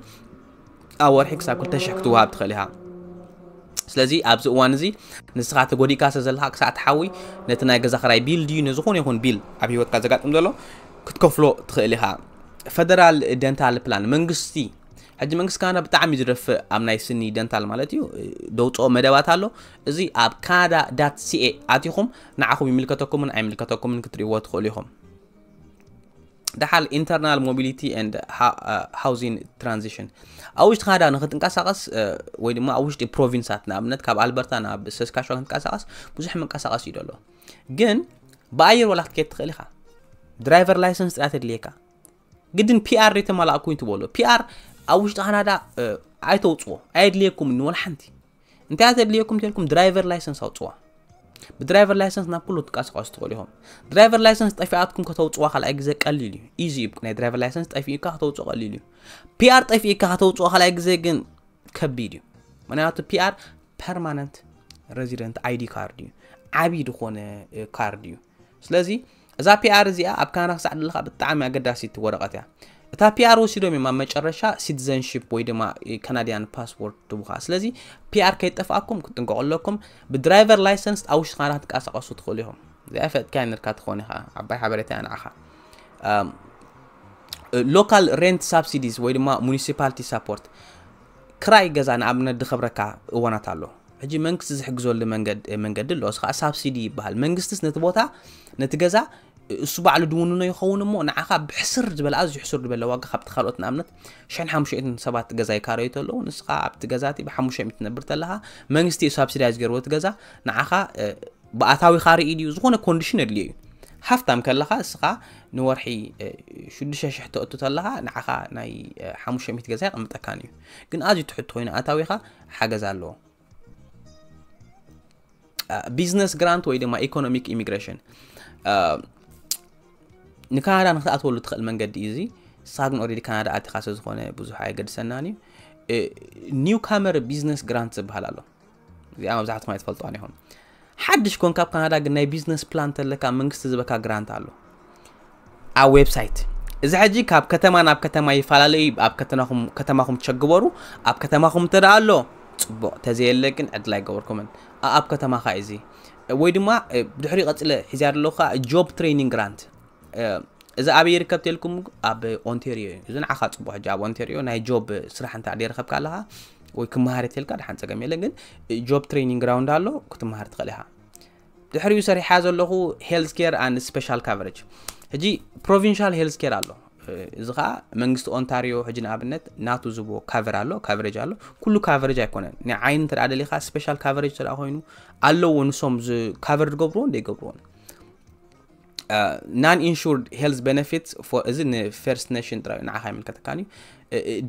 ኣብ ወርሒ ክሳብ ክልተ ሽሕ ክትወሃብ ትኽእል ኢኻ ስለዚ ኣብዚ እዋን እዚ ንስኻ ተጎዲእካ ስለ ዘለካ ክሳዕ ትሓዊ ነቲ ናይ ገዛ ክራይ ቢል ድዩ ንዝኾነ ይኹን ቢል ኣብ ሂወትካ ዘጋጥም ዘሎ ክትከፍሎ ትኽእል ኢኻ ፈደራል ደንታል ፕላን መንግስቲ ሕጂ መንግስቲ ካናዳ ብጣዕሚ እዩ ዝደፍእ ኣብ ናይ ስኒ ደንታል ማለት እዩ ደውፅኦ መደባት ኣሎ እዚ ኣብ ካናዳ ዳት ሲኤ ኣትኹም ንዓኹም ይምልከተኩምን ኣይምልከተኩምን ክትሪእዎ ትኽእሉ ኢኹም ደሓር ኢንተርናል ሞቢሊቲ ኤንድ ሃውዚን ትራንዚሽን ኣብ ውሽጢ ካናዳ ንክትንቀሳቀስ ወይ ድማ ኣብ ውሽጢ ፕሮቪንሳት ንኣብነት ካብ ኣልበርታ ናብ ሰስካሻ ክንቀሳቀስ ብዙሕ ምንቀሳቀስ እዩ ደሎ ግን ብኣየር ዋላ ክትከየድ ትኽእል ኢኻ ድራይቨር ላይሰንስ ጥያ ተድልየካ ግድን ፒኣር የተማላእ ኮይኑ ትበሎ ፒኣር ኣብ ውሽጢ ካናዳ ኣይተውፅዎ ኣየድልየኩም ንወላ ሓንቲ እንታይ እያ ዘድልየኩም ተልኩም ድራይቨር ላይሰንስ ኣውፅዋ ብድራይቨር ላይሰንስ ናብ ኩሉ ትንቀሳቀሱ ትኽእሉ ኢኹም ድራይቨር ላይሰንስ ጠፊኣትኩም ከተውፅዋ ካልኣይ ግዜ ቀሊል እዩ ኢዚ እዩ ናይ ድራይቨር ላይሰንስ ጠፊእካ ከተውፅኦ ቀሊል እዩ ፒኣር ጠፊእካ ከተውፅኦ ካልኣይ ግዜ ግን ከቢድ እዩ ምክንያቱ ፒኣር ፐርማነንት ሬዚደንት ኣይዲ ካርድ እዩ ዓብዪ ዝኾነ ካርድ እዩ ስለዚ እዛ ፒኣር እዚኣ ኣብ ካናዳ ክሳዕ ደለካ ብጣዕሚ ኣገዳሲት ወረቐት እያ እታ ፒኣር ወሲዶም እዮም ኣብ መጨረሻ ሲቲዘንሽፕ ወይ ድማ ካናድያን ፓስፖርት ትቡኻ ስለዚ ፒኣር ከይጠፍኣኩም ክትጥንቀቑ ኣለኩም ብድራይቨር ላይሰንስ ኣብ ውሽጢ ካናዳ ክትንቀሳቐሱ ትኽእሉ ኢኹም እዚኣ ፈጥካያ ነርካ ትኾን ኢኻ ዓባይ ሓበሬታ እያ ንዓኻ ሎካል ሬንት ሳብሲዲስ ወይ ድማ ሙኒሲፓሊቲ ሳፖርት ክራይ ገዛ ንኣብነት ድከብረካ እዋናት ኣሎ ሕጂ መንግስቲ ዝሕግዘሉ መንገዲ ኣሎ እዚ ከዓ ሳብሲዲ ይበሃል መንግስትስ ነቲ ቦታ ነቲ ገዛ እሱ ባዕሉ ድውንኖ ይኸውን እሞ ንዓኻ ብሕስር ዝበለ ኣዝዩ ሕሱር ዝበለ ዋጋ ካብቲ ካልኦት ንኣብነት ሽሕን ሓሙሽትን ሰባት ገዛ ይካረዩ ተለዉ ንስኻ ኣብቲ ገዛ እቲ ብሓሙሽተ ሚእቲ ትነብር ተለኻ መንግስቲ እዩ ሳብሲዳይዝ ገይርዎ እቲ ገዛ ንዓኻ ብኣታዊኻ ርኢ ድዩ ዝኾነ ኮንዲሽን የድልዮ እዩ ሃፍታም ከለኻ እስኻ ንወርሒ 6,000 ተእቱ ተለኻ ንዓኻ ናይ 500 ገዛ ይቕምጠካን እዩ ግን ኣዝዩ ትሕት ኮይኑ ኣታዊኻ ሓገዝ ኣለዎ ቢዝነስ ግራንት ወይ ድማ ኢኮኖሚክ ኢሚግሬሽን ንካናዳ ንክትኣትወሉ ትኽእል መንገዲ እዩ እዚ ንስኻ ግን ኦልሬዲ ካናዳ ኣቲኻ ስለዝኾነ ብዙሕ ኣየገድሰናን እዩ ኒው ካመር ቢዝነስ ግራንት ዝበሃል ኣሎ እዚኣ መብዛሕትኩም ኣይትፈልጥዋን ኢኹም ሓድሽ ኮንካ ኣብ ካናዳ ግን ናይ ቢዝነስ ፕላን ተለካ መንግስቲ ዝበካ ግራንት ኣሎ ኣብ ዌብሳይት እዚ ሕጂ ካብ ከተማ ናብ ከተማ ይፈላለዩ ኣብ ከተማኹም ቸግበሩ ኣብ ከተማኹም እንተ ኣሎ ፅቡቕ ተዘየለ ግን ዕድል ኣይገበርኩምን ኣብ ከተማኻ እዩ እዚ ወይ ድማ ብድሕሪ ቀፅለ ሒዚያ ኣለካ ጆብ ትሬኒንግ ግራንት እዚ ኣበይ ይርከብ ተልኩም ኣብ ኦንቴሪዮ እዩ እዚ ንዓኻ ፅቡቅ ሕጂ ኣብ ኦንቴሪዮ ናይ ጆብ ስራሕ እንተ ደይረከብካ ኣለኻ ወይ ክመሃር እትልካ ድሓን ፀገም የለን ግን ጆብ ትሬኒንግ ግራውንድ ኣሎ ክትመሃር ትኽእል ኢኻ ድሕሪኡ ሰሪሓ ዘለኹ ሄልዝ ኬር ኣን ስፔሻል ካቨሬጅ ሕጂ ፕሮቪንሻል ሄልዝ ኬር ኣሎ እዚ ከዓ መንግስቲ ኦንታሪዮ ሕጂ ንኣብነት ናቱ ዝቦ ካቨር ኣሎ ካቨሬጅ ኣሎ ኩሉ ካቨሬጅ ኣይኮነን ናይ ዓይኒ እንተ ደሊኻ ስፔሻል ካቨሬጅ እንተ ኮይኑ ኣለዎ ንሶም ካቨር ዝገብርዎን ዘይገብርዎን ናን ኢንሹርድ ሄልዝ ቤነፊትስ እዚ ንፌርስት ኔሽን ጥራይ ንዓኻ ይምልከተካን እዩ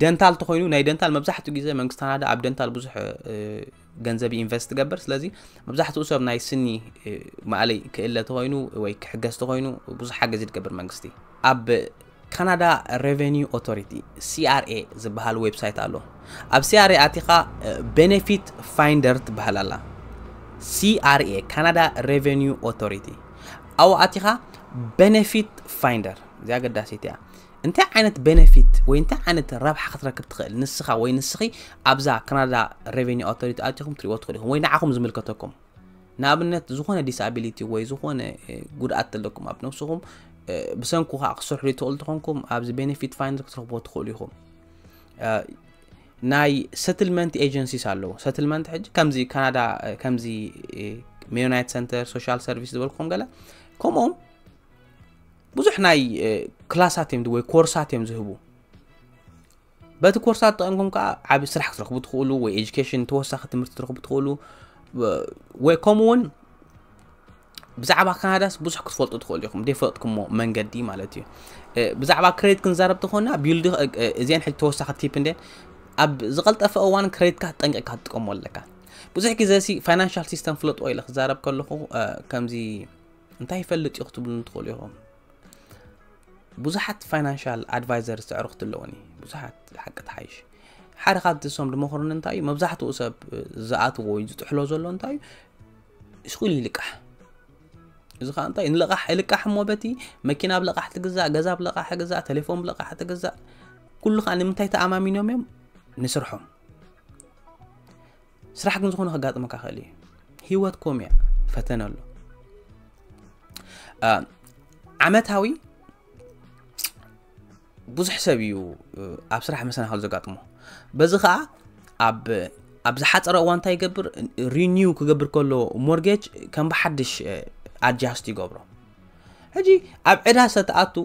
ደንታል ተኮይኑ ናይ ደንታል መብዛሕትኡ ግዜ መንግስቲ ካናዳ ኣብ ደንታል ብዙሕ ገንዘብ ኢንቨስት ትገብር ስለዚ መብዛሕትኡ ሰብ ናይ ስኒ ማእለይ ክእለ ተኮይኑ ወይ ክሕገዝ ተኮይኑ ብዙሕ ሓገዝ ይትገብር መንግስቲ ኣብ ካናዳ ረቨኒው ኦቶሪቲ፣ CRA፣ ዝብሃል ዌብሳይት ኣሎ። ኣብ CRA ኣቲኻ ቤነፊት ፋይንደር ትብሃል ኣላ። CRA፣ ካናዳ ረቨኒው ኦቶሪቲ፣ ኣብኡ ኣቲኻ ቤነፊት ፋይንደር፣ እዚኣ ኣገዳሲት እያ። እንታይ ዓይነት ቤነፊት ወይ እንታይ ዓይነት ረብሓ ክትረክብ ትኽእል ንስኻ ወይ ንስኺ ኣብዛ ካናዳ ሬቨኒ ኣውቶሪቲ ኣቲኹም ትሪእዎ ትኽእሉ ኢኹም ወይ ንዓኹም ዝምልከተኩም ንኣብነት ዝኾነ ዲስኣቢሊቲ ወይ ዝኾነ ጉድኣት ዘለኩም ኣብ ነብስኹም ብሰንኩ ከዓ ክሰርሑ ዘይትኽእሉ ተኾንኩም ኣብዚ ቤኔፊት ፋይንደር ክትረኽብዎ ትኽእሉ ኢኹም ናይ ሰትልመንት ኤጀንሲስ ኣለዎ ሰትልመንት ሕጂ ከምዚ ካናዳ ከምዚ ሜዮናይት ሰንተር ሶሻል ሰርቪስ ዝበልኩም ገለ ከምኡም ብዙሕ ናይ ክላሳት እዮም ወይ ኮርሳት እዮም ዝህቡ በቲ ኮርሳት ተጠቐምኩም ከዓ ዓብ ስራሕ ክትረኽቡ ትኽእሉ ወይ ኤጁኬሽን ተወሳኺ ትምህርቲ ትረኽቡ ትኽእሉ ወይ ከምኡ እውን ብዛዕባ ካናዳስ ብዙሕ ክትፈልጡ ትኽእሉ ኢኹም ደይፈለጥኩምዎ መንገዲ ማለት እዩ ብዛዕባ ክሬዲት ክንዛረብ ተኾና ቢልዲ እዚአን ሕጂ ተወሳኺ ቲፕ እንደ ኣብ ዝቐልጠፈ እዋን ክሬዲትካ ጠንቂቕካ ትጥቀሞ ኣለካ ብዙሕ ግዜ ሲ ፋይናንሻል ሲስተም ፍለጥዎ ኢለ ክዛረብ ከለኹ ከምዚ እንታይ ይፈልጥ እዩ ክትብሉ ትኽእሉ ኢኹም ብዙሓት ፋይናንሻል ኣድቫይዘር ዝተዕርኽቲ ኣለዉኒ ብዙሓት ሓቂ ተሓይሽ ሓደ ካብቲ እሶም ድመኽሩኒ እንታይ እዩ መብዛሕትኡ ሰብ ዝኣትዎ ወይ ዝጥሕሎ ዘሎ እንታይ እዩ ስኹል ይልቃሕ እዚ ከዓ እንታይ ንለቃሕ ይልቃሕ እሞ በቲ መኪና ብ ለቃሕ ትግዛእ ገዛ ብ ለቃሕ ትግዛእ ቴሌፎን ብ ለቃሕ ትግዛእ ኩሉ ከዓ ንምንታይ ተኣማሚኖም እዮም ንስርሖም ስራሕ ግን ዝኾነ ከጋጥመካ ክእል እዩ ሂወት ኮም እያ ፈተነ ኣሎ ዓመታዊ ብዙሕ ሰብ እዩ ኣብ ስራሕ መሰናኸል ዘጋጥሞ በዚ ከዓ ኣብ ኣብ ዝሓፀረ እዋ እንታይ ይገብር ሪኒው ክገብር ከሎ ሞርጌጅ ከም ብሓድሽ ኣጃስት ይገብሮ ሕጂ ኣብ ዕዳ ሰተኣቱ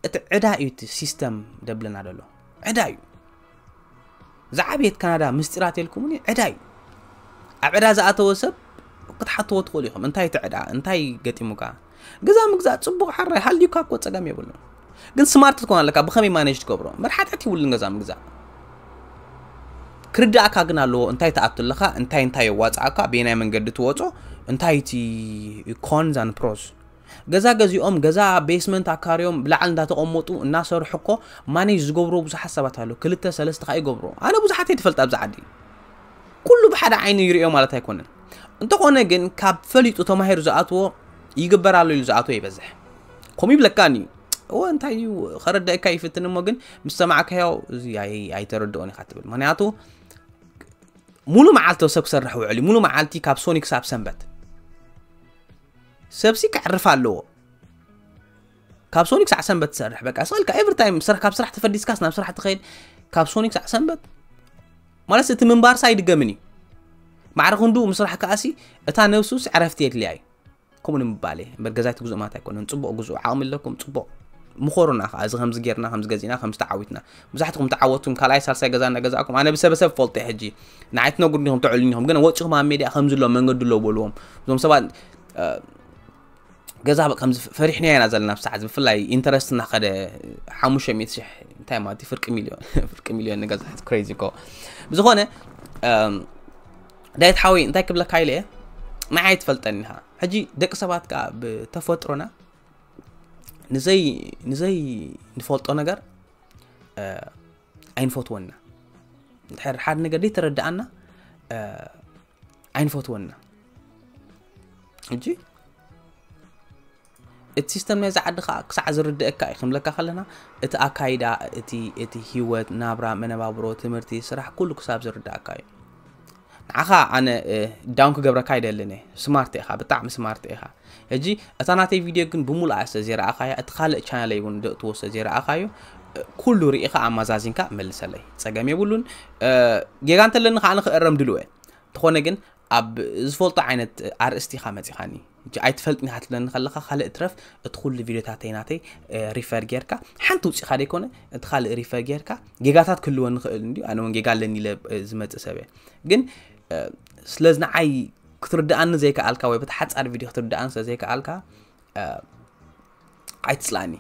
እቲ ዕዳ እዩ እቲ ሲስተም ደብለና ደሎ ዕዳ እዩ ዝዓበየት ካናዳ ምስጢራት የልኩምኒ ዕዳ እዩ ኣብ ዕዳ ዝኣተወ ሰብ ክትሓትዎ ትኽእሉ ኢኹም እንታይ እቲ ዕዳ እንታይ ገጢሙካ ገዛ ምግዛእ ፅቡቕ ሓራይ ሃልዩካ እኮ ፀገም የብሉ ግን ስማርት ትኮን ኣለካ ብኸመይ ማነጅ ትገብሮ መርሓትሕት ይብሉን ገዛ ምግዛእ ክርዳእካ ግን ኣለዎ እንታይ ትኣቱ ኣለካ እንታይ እንታይ የዋፅኣካ በየናይ መንገዲ ትወፆ እንታይ እቲ ኮንዛን ፕሮስ ገዛ ገዚኦም ገዛ ቤስመንት ኣካርዮም ብላዕል እንዳተቀመጡ እናሰርሑ እኮ ማኔጅ ዝገብርዎ ብዙሓት ሰባት ኣለው ክልተ ሰለስተ ከኣ ይገብርዎ ኣነ ብዙሓት እየ ትፈልጥ ኣብዚ ዓዲ ኩሉ ብሓደ ዓይኑ ይርእዮ ማለት ኣይኮነን እንተኾነ ግን ካብ ፈሊጡ ተማሂሩ ዝኣትዎ ይግበር ኣሎ ኢሉ ዝኣትዎ ይበዝሕ ከምኡ ይብለካን እዩ እወ እንታይ እዩ ከረዳእካ ይፍትን እሞ ግን ምስ ሰማዕካዮ እዚ ኣይተረድኦን ኢኻ ትብል ምክንያቱ ሙሉ መዓልቲ ሰብ ክሰርሕ ውዕል ሙሉ መዓልቲ ካብ ሶኒ ክሳብ ሰንበት ሰብሲ ከዕርፍ ኣለዎ ካብ ሶኒ ክሳዕ ሰንበት ትሰርሕ በቃ ስልካ ኤቭሪ ታይም ካብ ስራሕ ተፈዲስካስ ናብ ስራሕ ትኸይድ ካብ ሶኒ ክሳዕ ሰንበት ማለት እቲ ምንባርሳ ኣይድገምን እዩ ማዕረ ክንዱ ምስራሕ ከኣሲ እታ ነብሱስ ዕረፍቲ የድልያ እዩ ከምኡ ንምባለ እምበር ገዛይቲ ግዝኡ ማለት ኣይኮነን ፅቡቕ ግዝኡ ዓቕሚ ኣለኩም ፅቡቕ ምኾሩና ከዓ እዚ ከምዚ ጌርና ከምዚ ገዚእና ከምዚ ተዓዊትና መብዛሕትኹም ተዓወትኩም ካልኣይ ሳልሳይ ገዛ እናገዛእኩም ኣነ ብሰበ ሰብ ፈልጦ እየ ሕጂ ንዓይ ትነግሩኒ ኢኹም ተዕሉኒ ኢኹም ግን ወጪኹም ኣብ ሜድያ ከምዚ ኣሎ መንገዲ ኣሎ በልዎም እዞም ሰባት ገዛ ከምዚ ፈሪሕናዮ ኢና ዘለና ብሰዓት ብፍላይ ኢንተረስት እናኸደ ሓሙሽተ ሚእቲ ሽሕ እንታይ ማለት እዩ ፍርቂ ሚልዮን ፍርቂ ሚልዮን ንገዛ ክሬዚ እኮ ብዝኾነ ዳይት ሓወይ እንታይ ክብለካ ኢለ እየ ንዓይ ትፈልጠኒ ኢኻ ሕጂ ደቂ ሰባት ከዓ ብተፈጥሮና ንዘይ ንዘይ ንፈልጦ ነገር ኣይንፈትወና ድሕር ሓደ ነገር ደይ ተረድኣና ኣይንፈትወና እጂ እቲ ሲስተም ናይዚ ዓዲ ከዓ ክሳዕ ዝርድአካ እዩ ክንብለካ ከለና እቲ ኣካይዳ እቲ እቲ ሂወት ናብራ መነባብሮ ትምህርቲ ስራሕ ኩሉ ክሳብ ዝርድኣካ እዩ ንዓኻ ኣነ ዳውን ክገብረካ ኣይደልን እየ ስማርት ኢኻ ብጣዕሚ ስማርት ኢኻ ሕጂ እታ ናተይ ቪድዮ ግን ብምሉኣ ስለ ዘይረኣኻያ እቲ ካልእ ቻነለይ እውን ደእትዎ ስለ ዘይረኣኻዮ ኩሉ ርኢኻ ኣመዛዚንካ መልሰለይ ጸገም የብሉን ጌጋ እንተለኒ ከዓ ንክእረም ድልወ እንተኾነ ግን ኣብ ዝፈልጦ ዓይነት ኣርእስቲ ኢኻ መጺኻኒ ሕጂ ኣይትፈልጥን ኢኻ ትብለኒ ከለኻ ካልእ ትረፍ እቲ ኩሉ ቪድዮታተይ ናተይ ሪፈር ጌርካ ሓንቲ ውፂእካ ደይኮነ እቲ ካልእ ሪፈር ጌርካ ጌጋታት ክህልወኒ ክእል እንዲ ኣነ እውን ጌጋ ኣለኒ ኢለ ዝመፅእ ሰብ እየ ግን ስለዚ ንዓይ ክትርድኣኒ ዘይከኣልካ ወይ በቲ ሓፃር ቪድዮ ክትርድኣኒ ስለ ዘይከኣልካ ኣይትፅላእኒ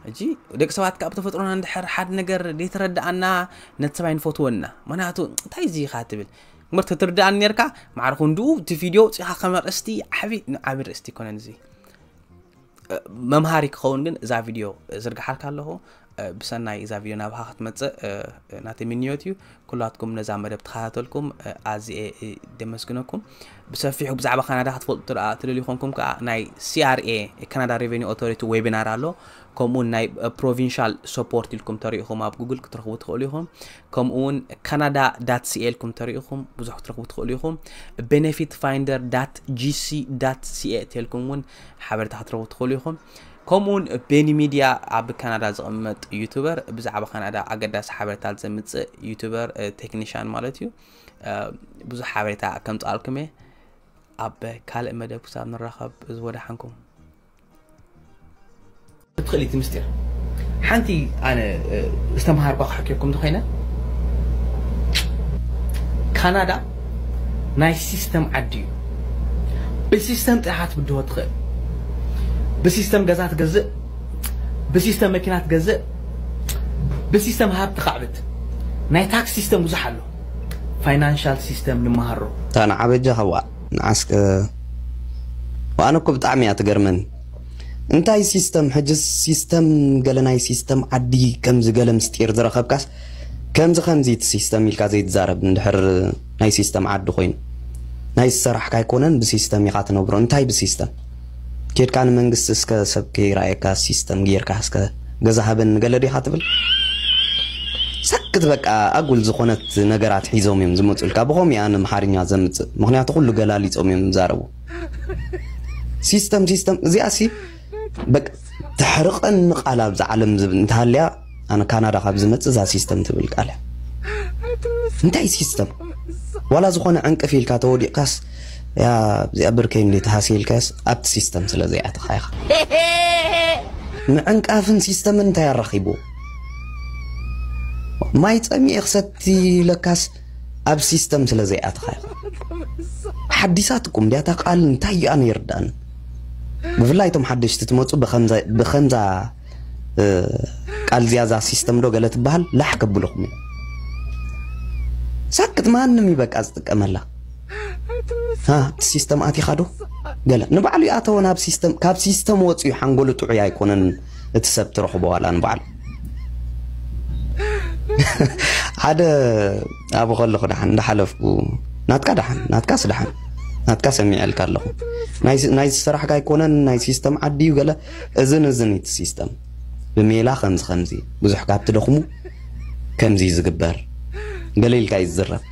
ሕጂ ደቂ ሰባት ካብ ተፈጥሮና ንድሕር ሓደ ነገር ዘይተረድኣና ነቲ ሰብኣይ ንፈትዎን ኢና ምክንያቱ እንታይ እዚ ኢኻ ትብል እምበር ተትርድኣኒ ነርካ ማዕረ ክንድኡ እቲ ቪድዮ ውፅኢኻ ከም ኣርእስቲ ዓብዪ ዓብ ርእስቲ ይኮነን እዚ መምሃሪ ክኸውን ግን እዛ ቪድዮ ዝርግሓልካ ኣለኹ ብሰናይ እዛ ቪድዮ ናባኻ ክትመጽእ ናተይ ምንዮት እዩ ኩላትኩም ነዛ መደብ ተኸታተልኩም ኣዝየ ደመስግነኩም ብሰፊሑ ብዛዕባ ካናዳ ክትፈልጡ ደኣ ትደልዩ ኮንኩም ከዓ ናይ ሲኣርኤ ካናዳ ሬቨኒ ኦቶሪቲ ዌቢናር ኣሎ ከምኡውን ናይ ፕሮቪንሻል ሰፖርት ኢልኩም ተሪኢኹም ኣብ ጉግል ክትረኽቡ ትኽእሉ ኢኹም ከምኡውን ካናዳ ዳት ሲኤ ኢልኩም ተሪኢኹም ብዙሕ ክትረኽቡ ትኽእሉ ኢኹም ቤኔፊት ፋይንደር ዳት ጂሲ ዳት ሲኤ ተልኩም እውን ሓበሬታ ክትረኽቡ ትኽእሉ ኢኹም ከምኡ ውን ቤኒ ሚድያ ኣብ ካናዳ ዝቕመጥ ዩቱበር ብዛዕባ ካናዳ ኣገዳሲ ሓበሬታት ዘምፅእ ዩቱበር ቴክኒሻን ማለት እዩ ብዙሕ ሓበሬታ ከምፅኣልኩም እየ ኣብ ካልእ መደብ ክሳብ ንራኸብ እዚ ወዳሓንኩም ትኽእል እቲ ምስጢር ሓንቲ ኣነ ዝተምሃርኳ ክሕክየኩም ዝኮይነ ካናዳ ናይ ሲስተም ዓዲ እዩ ብሲስተም ጥራሕ ትብድሆ ትኽእል ብሲስተም ገዛ ትገዝእ ብሲስተም መኪና ትገዝእ ብሲስተም ሃብቲ ካዕብት ናይ ታክስ ሲስተም ብዙሕ ኣሎ ፋይናንሻል ሲስተም ንመሃሮ እታ ንዓ በጃኻ ዋእ ንዓስከ ዋኣነ እኮ ብጣዕሚ እያ ትገርመኒ እንታይ ሲስተም ሕጅስ ሲስተም ገለ ናይ ሲስተም ዓዲ ከምዚ ገለ ምስጢር ዝረኸብካስ ከምዚ ከምዚ እቲ ሲስተም ኢልካ ዘይትዛረብ እንድሕር ናይ ሲስተም ዓዲ ኮይኑ ናይ ዝሰራሕካ ኣይኮነን ብሲስተም ኢካ ትነብሮ እንታይ ብሲስተም ኬድካ ንመንግስቲ እስከ ሰብ ከይረኣየካ ሲስተም ጌርካ እስከ ገዛ ሃበኒ ገለ ዲካ ትብል ሰክት በቃ ኣጉል ዝኮነት ነገራት ሒዞም እዮም ዝመፁልካ ብከምኡ እያ ንምሓርኛ ዘምፅእ ምክንያቱ ኩሉ ገላሊፆም እዮም ዝዛረቡ ሲስተም ሲስተም እዚኣሲ በቃ ተሕርቀኒ ቃል ኣብዛ ዓለም ዝብል እንተሃልያ ኣነ ካናዳ ካብ ዝመጽእ እዛ ሲስተም ትብል ቃል እያ እንታይ ሲስተም ዋላ ዝኾነ ዕንቅፍ ኢልካ ተወዲቕካስ ያ እዚኣ ብርከይ እንዲ ተሃስየ ኢልካስ ኣብቲ ሲስተም ስለ ዘይኣተኻ ኢኻ ምዕንቃፍን ሲስተምን እንታይ ኣራኺቡ ማይ ጸሚኤ ክሰቲ ለካስ ኣብ ሲስተም ስለ ዘይኣተኻ ኢኻ ሓዲሳት እኩም እንዲያ እታ ቃል እንታይ እያ ነይርዳን ብፍላይ እቶም ሓደሽቲ ትመፁ ብከምዛ ቃል ዚያዛ ሲስተም ዶ ገለ ትበሃል ላሕ ከብልኹም እዩ ሳክት ማንም እዩ በቃ ዝጥቀመላ ሲስተም ኣቲኻ ዶ ገለ ንባዕሉ ይኣተወ ናብ ሲስተም ካብ ሲስተም ወፅዩ ሓንጎሉ ጥዑይ ኣይኮነን እቲ ሰብ ትረኽቦ ዋላ ንባዕሉ ሓደ ኣብ ከለኹ ደሓን እንዳሓለፍኩ ናትካ ደሓን ናትካስ ደሓን ናትካ ሰሚዐልካ ኣለኹ ናይ ስራሕካ ኣይኮነን ናይ ሲስተም ዓዲ እዩ ገለ እዝን እዝን እቲ ሲስተም ብሜላ ከምዚ ከምዚ ብዙሕ ካብ ትደኽሙ ከምዚ እዩ ዝግበር ገለ ኢልካ እዩ ዝዝረብ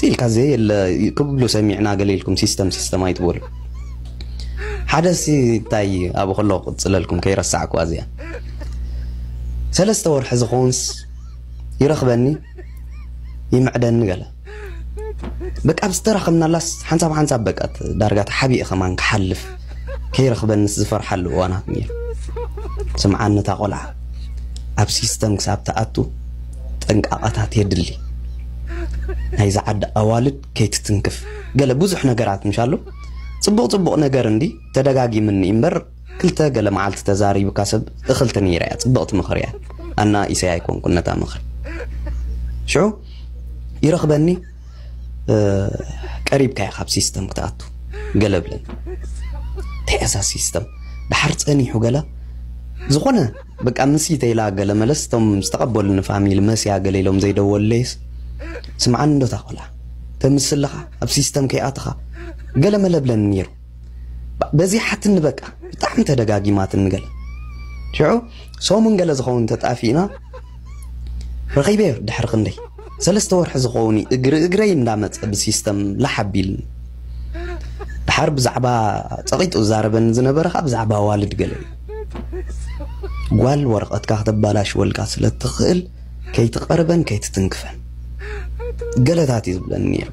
ኢልካ ዘየለ ክብሉ ሰሚዕና ገለ ኢልኩም ሲስተም ሲስተም ኣይትበሉ ሓደሲ እንታይ ኣብ ከሎ ክቅፅለልኩም ከይረሳዕኩዋ እዚኣ ሰለስተ ወርሒ ዝኾንስ ይረኽበኒ ይምዕደኒ ገለ በቃ ኣብ ዝተራኸብናላስ ሓንሳብ ሓንሳብ በቃ ዳርጋ ተሓቢኡ ከማን ክሓልፍ ከይረኽበንስ ዝፈርሓሉ እዋናት ነይሩ ስምዓኒ እታ ቆልዓ ኣብ ሲስተም ክሳብ ትኣቱ ጥንቃቐታት የድሊ ናይ ዝዓዲ ኣዋልድ ከይትትንክፍ ገለ ብዙሕ ነገራት ምሻሉ ፅቡቕ ፅቡቕ ነገር እንዲ ተደጋጊምኒ እምበር ክልተ ገለ መዓልቲ ተዛሪብካ ሰብ እኽልቲ ነይረ እያ ጽብቕቲ ምኽሪ እያ ኣና ኢሰይ ኣይኮንኩን ነታ ምኽሪ ሽዑ ይረኽበኒ ቀሪብካ እያ ካብ ሲስተም ክትኣቱ ገለ ብለኒ እንታይ እያ ሲስተም ድሓር ጸኒሑ ገለ ዝኾነ በቃ ምስ ኢተይላ ገለ መለስ እቶም ዝተቐበሉኒ ፋሚሊ መስያ ገለ ኢሎም ዘይደወለይስ ስምዓኒ እንዶ ታቆላ ተምስልኻ ኣብ ሲስተም ከይኣትኻ ገለ መለ ብለኒ ነይሩ በዚሓትኒ በቃ ብጣዕሚ ተደጋጊማትኒ ገለ ሽዑ ሰሙን ገለ ዝኸውን ተጣፊእና ረኺበዮ ድሕሪ ክንደይ ሰለስተ ወርሒ ዝኸውን እግሪ እግረይ እንዳመፀ ብሲስተም ላሕ ኣቢልኒ ድሓር ብዛዕባ ፀቒጡ ዛረበኒ ዝነበረ ከዓ ብዛዕባ ዋልድ ገለ ጓል ወረቐትካ ክተባላሽወልካ ስለ እትኽእል ከይትቐርበን ከይትትንክፈን ገለታት እዩ ዝብለኒ ነይሩ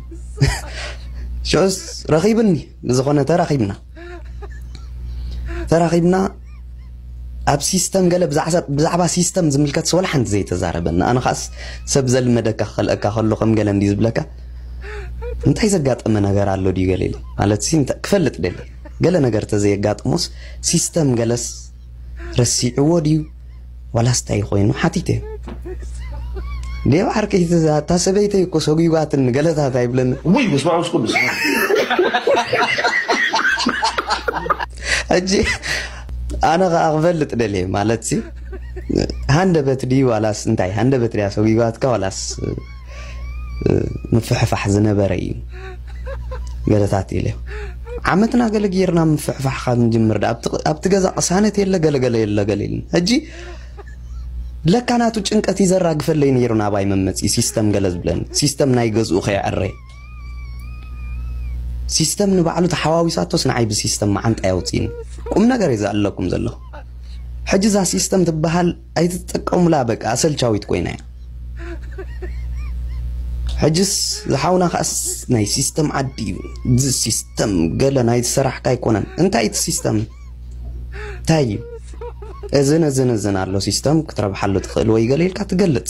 ሽዑስ ረኺብኒ ብዝኾነ ተራኺብና ተራኺብና ኣብ ሲስተም ገለ ብዛዕባ ሲስተም ዝምልከት ስወል ሓንቲ ዘይተዛረበና ኣነ ኸዓስ ሰብ ዘልመደካ ክኸልአካ ከሎ ከም ገለ እንዲ ዝብለካ እንታይ ዘጋጠመ ነገር ኣሎ ድዩ ገለ ኢለ ማለት ክፈልጥ ደለ ገለ ነገር ተዘየጋጥሞስ ሲስተም ገለስ ረሲዕዎ ድዩ ዋላስ እንታይ ኮይኑ ሓቲተ ሌባ ዓርከይ እታ ሰበይተይ እኮ ሰጒጓትኒ ገለታት ኣይብለኒ ውይ ምስማ ምስ ቅዱስ ሕጂ ኣነ ከዓ ክፈልጥ ደልየ ማለት ሃንደበት ድዩ ዋላስ እንታይ ሃንደበት ድያ ሰጒጓትካ ዋላስ ምፍሕፋሕ ዝነበረ እዩ ገለታት ኢለ ዓመትና ገለ ጌርና ምፍሕፋሕ ካብ ንጅምር ዳ ኣብቲ ገዛ ቅሳነት የለ ገለገለ የለ ገለ ኢልን ሕጂ ለካ ናቱ ጭንቀት እዩ ዘራግፈለይ ነይሩ ናባይ መመፂ ሲስተም ገለ ዝብለኒ ሲስተም ናይ ገዝኡ ከይዕረ ሲስተም ንባዕሉ ተሓዋዊሳቶስ ንዓይ ብሲስተም መዓንጣ የውፅእኒ ቁም ነገር እዩ ዘለኩም ዘለኹ ሕጂ እዛ ሲስተም ትበሃል ኣይትጠቀሙላ በቃ ኣሰልቻዊት ኮይና እያ። ሕጅስ ዝሓውና ከኣስ ናይ ሲስተም ዓዲ እዩ እዚ ሲስተም ገለ ናይ ዝሰራሕካ ኣይኮነን እንታይ እቲ ሲስተም እንታይ እዩ እዝን እዝን እዝን ኣሎ ሲስተም ክትረብሓሉ ትኽእል ወይ ገለ ኢልካ ትገልጽ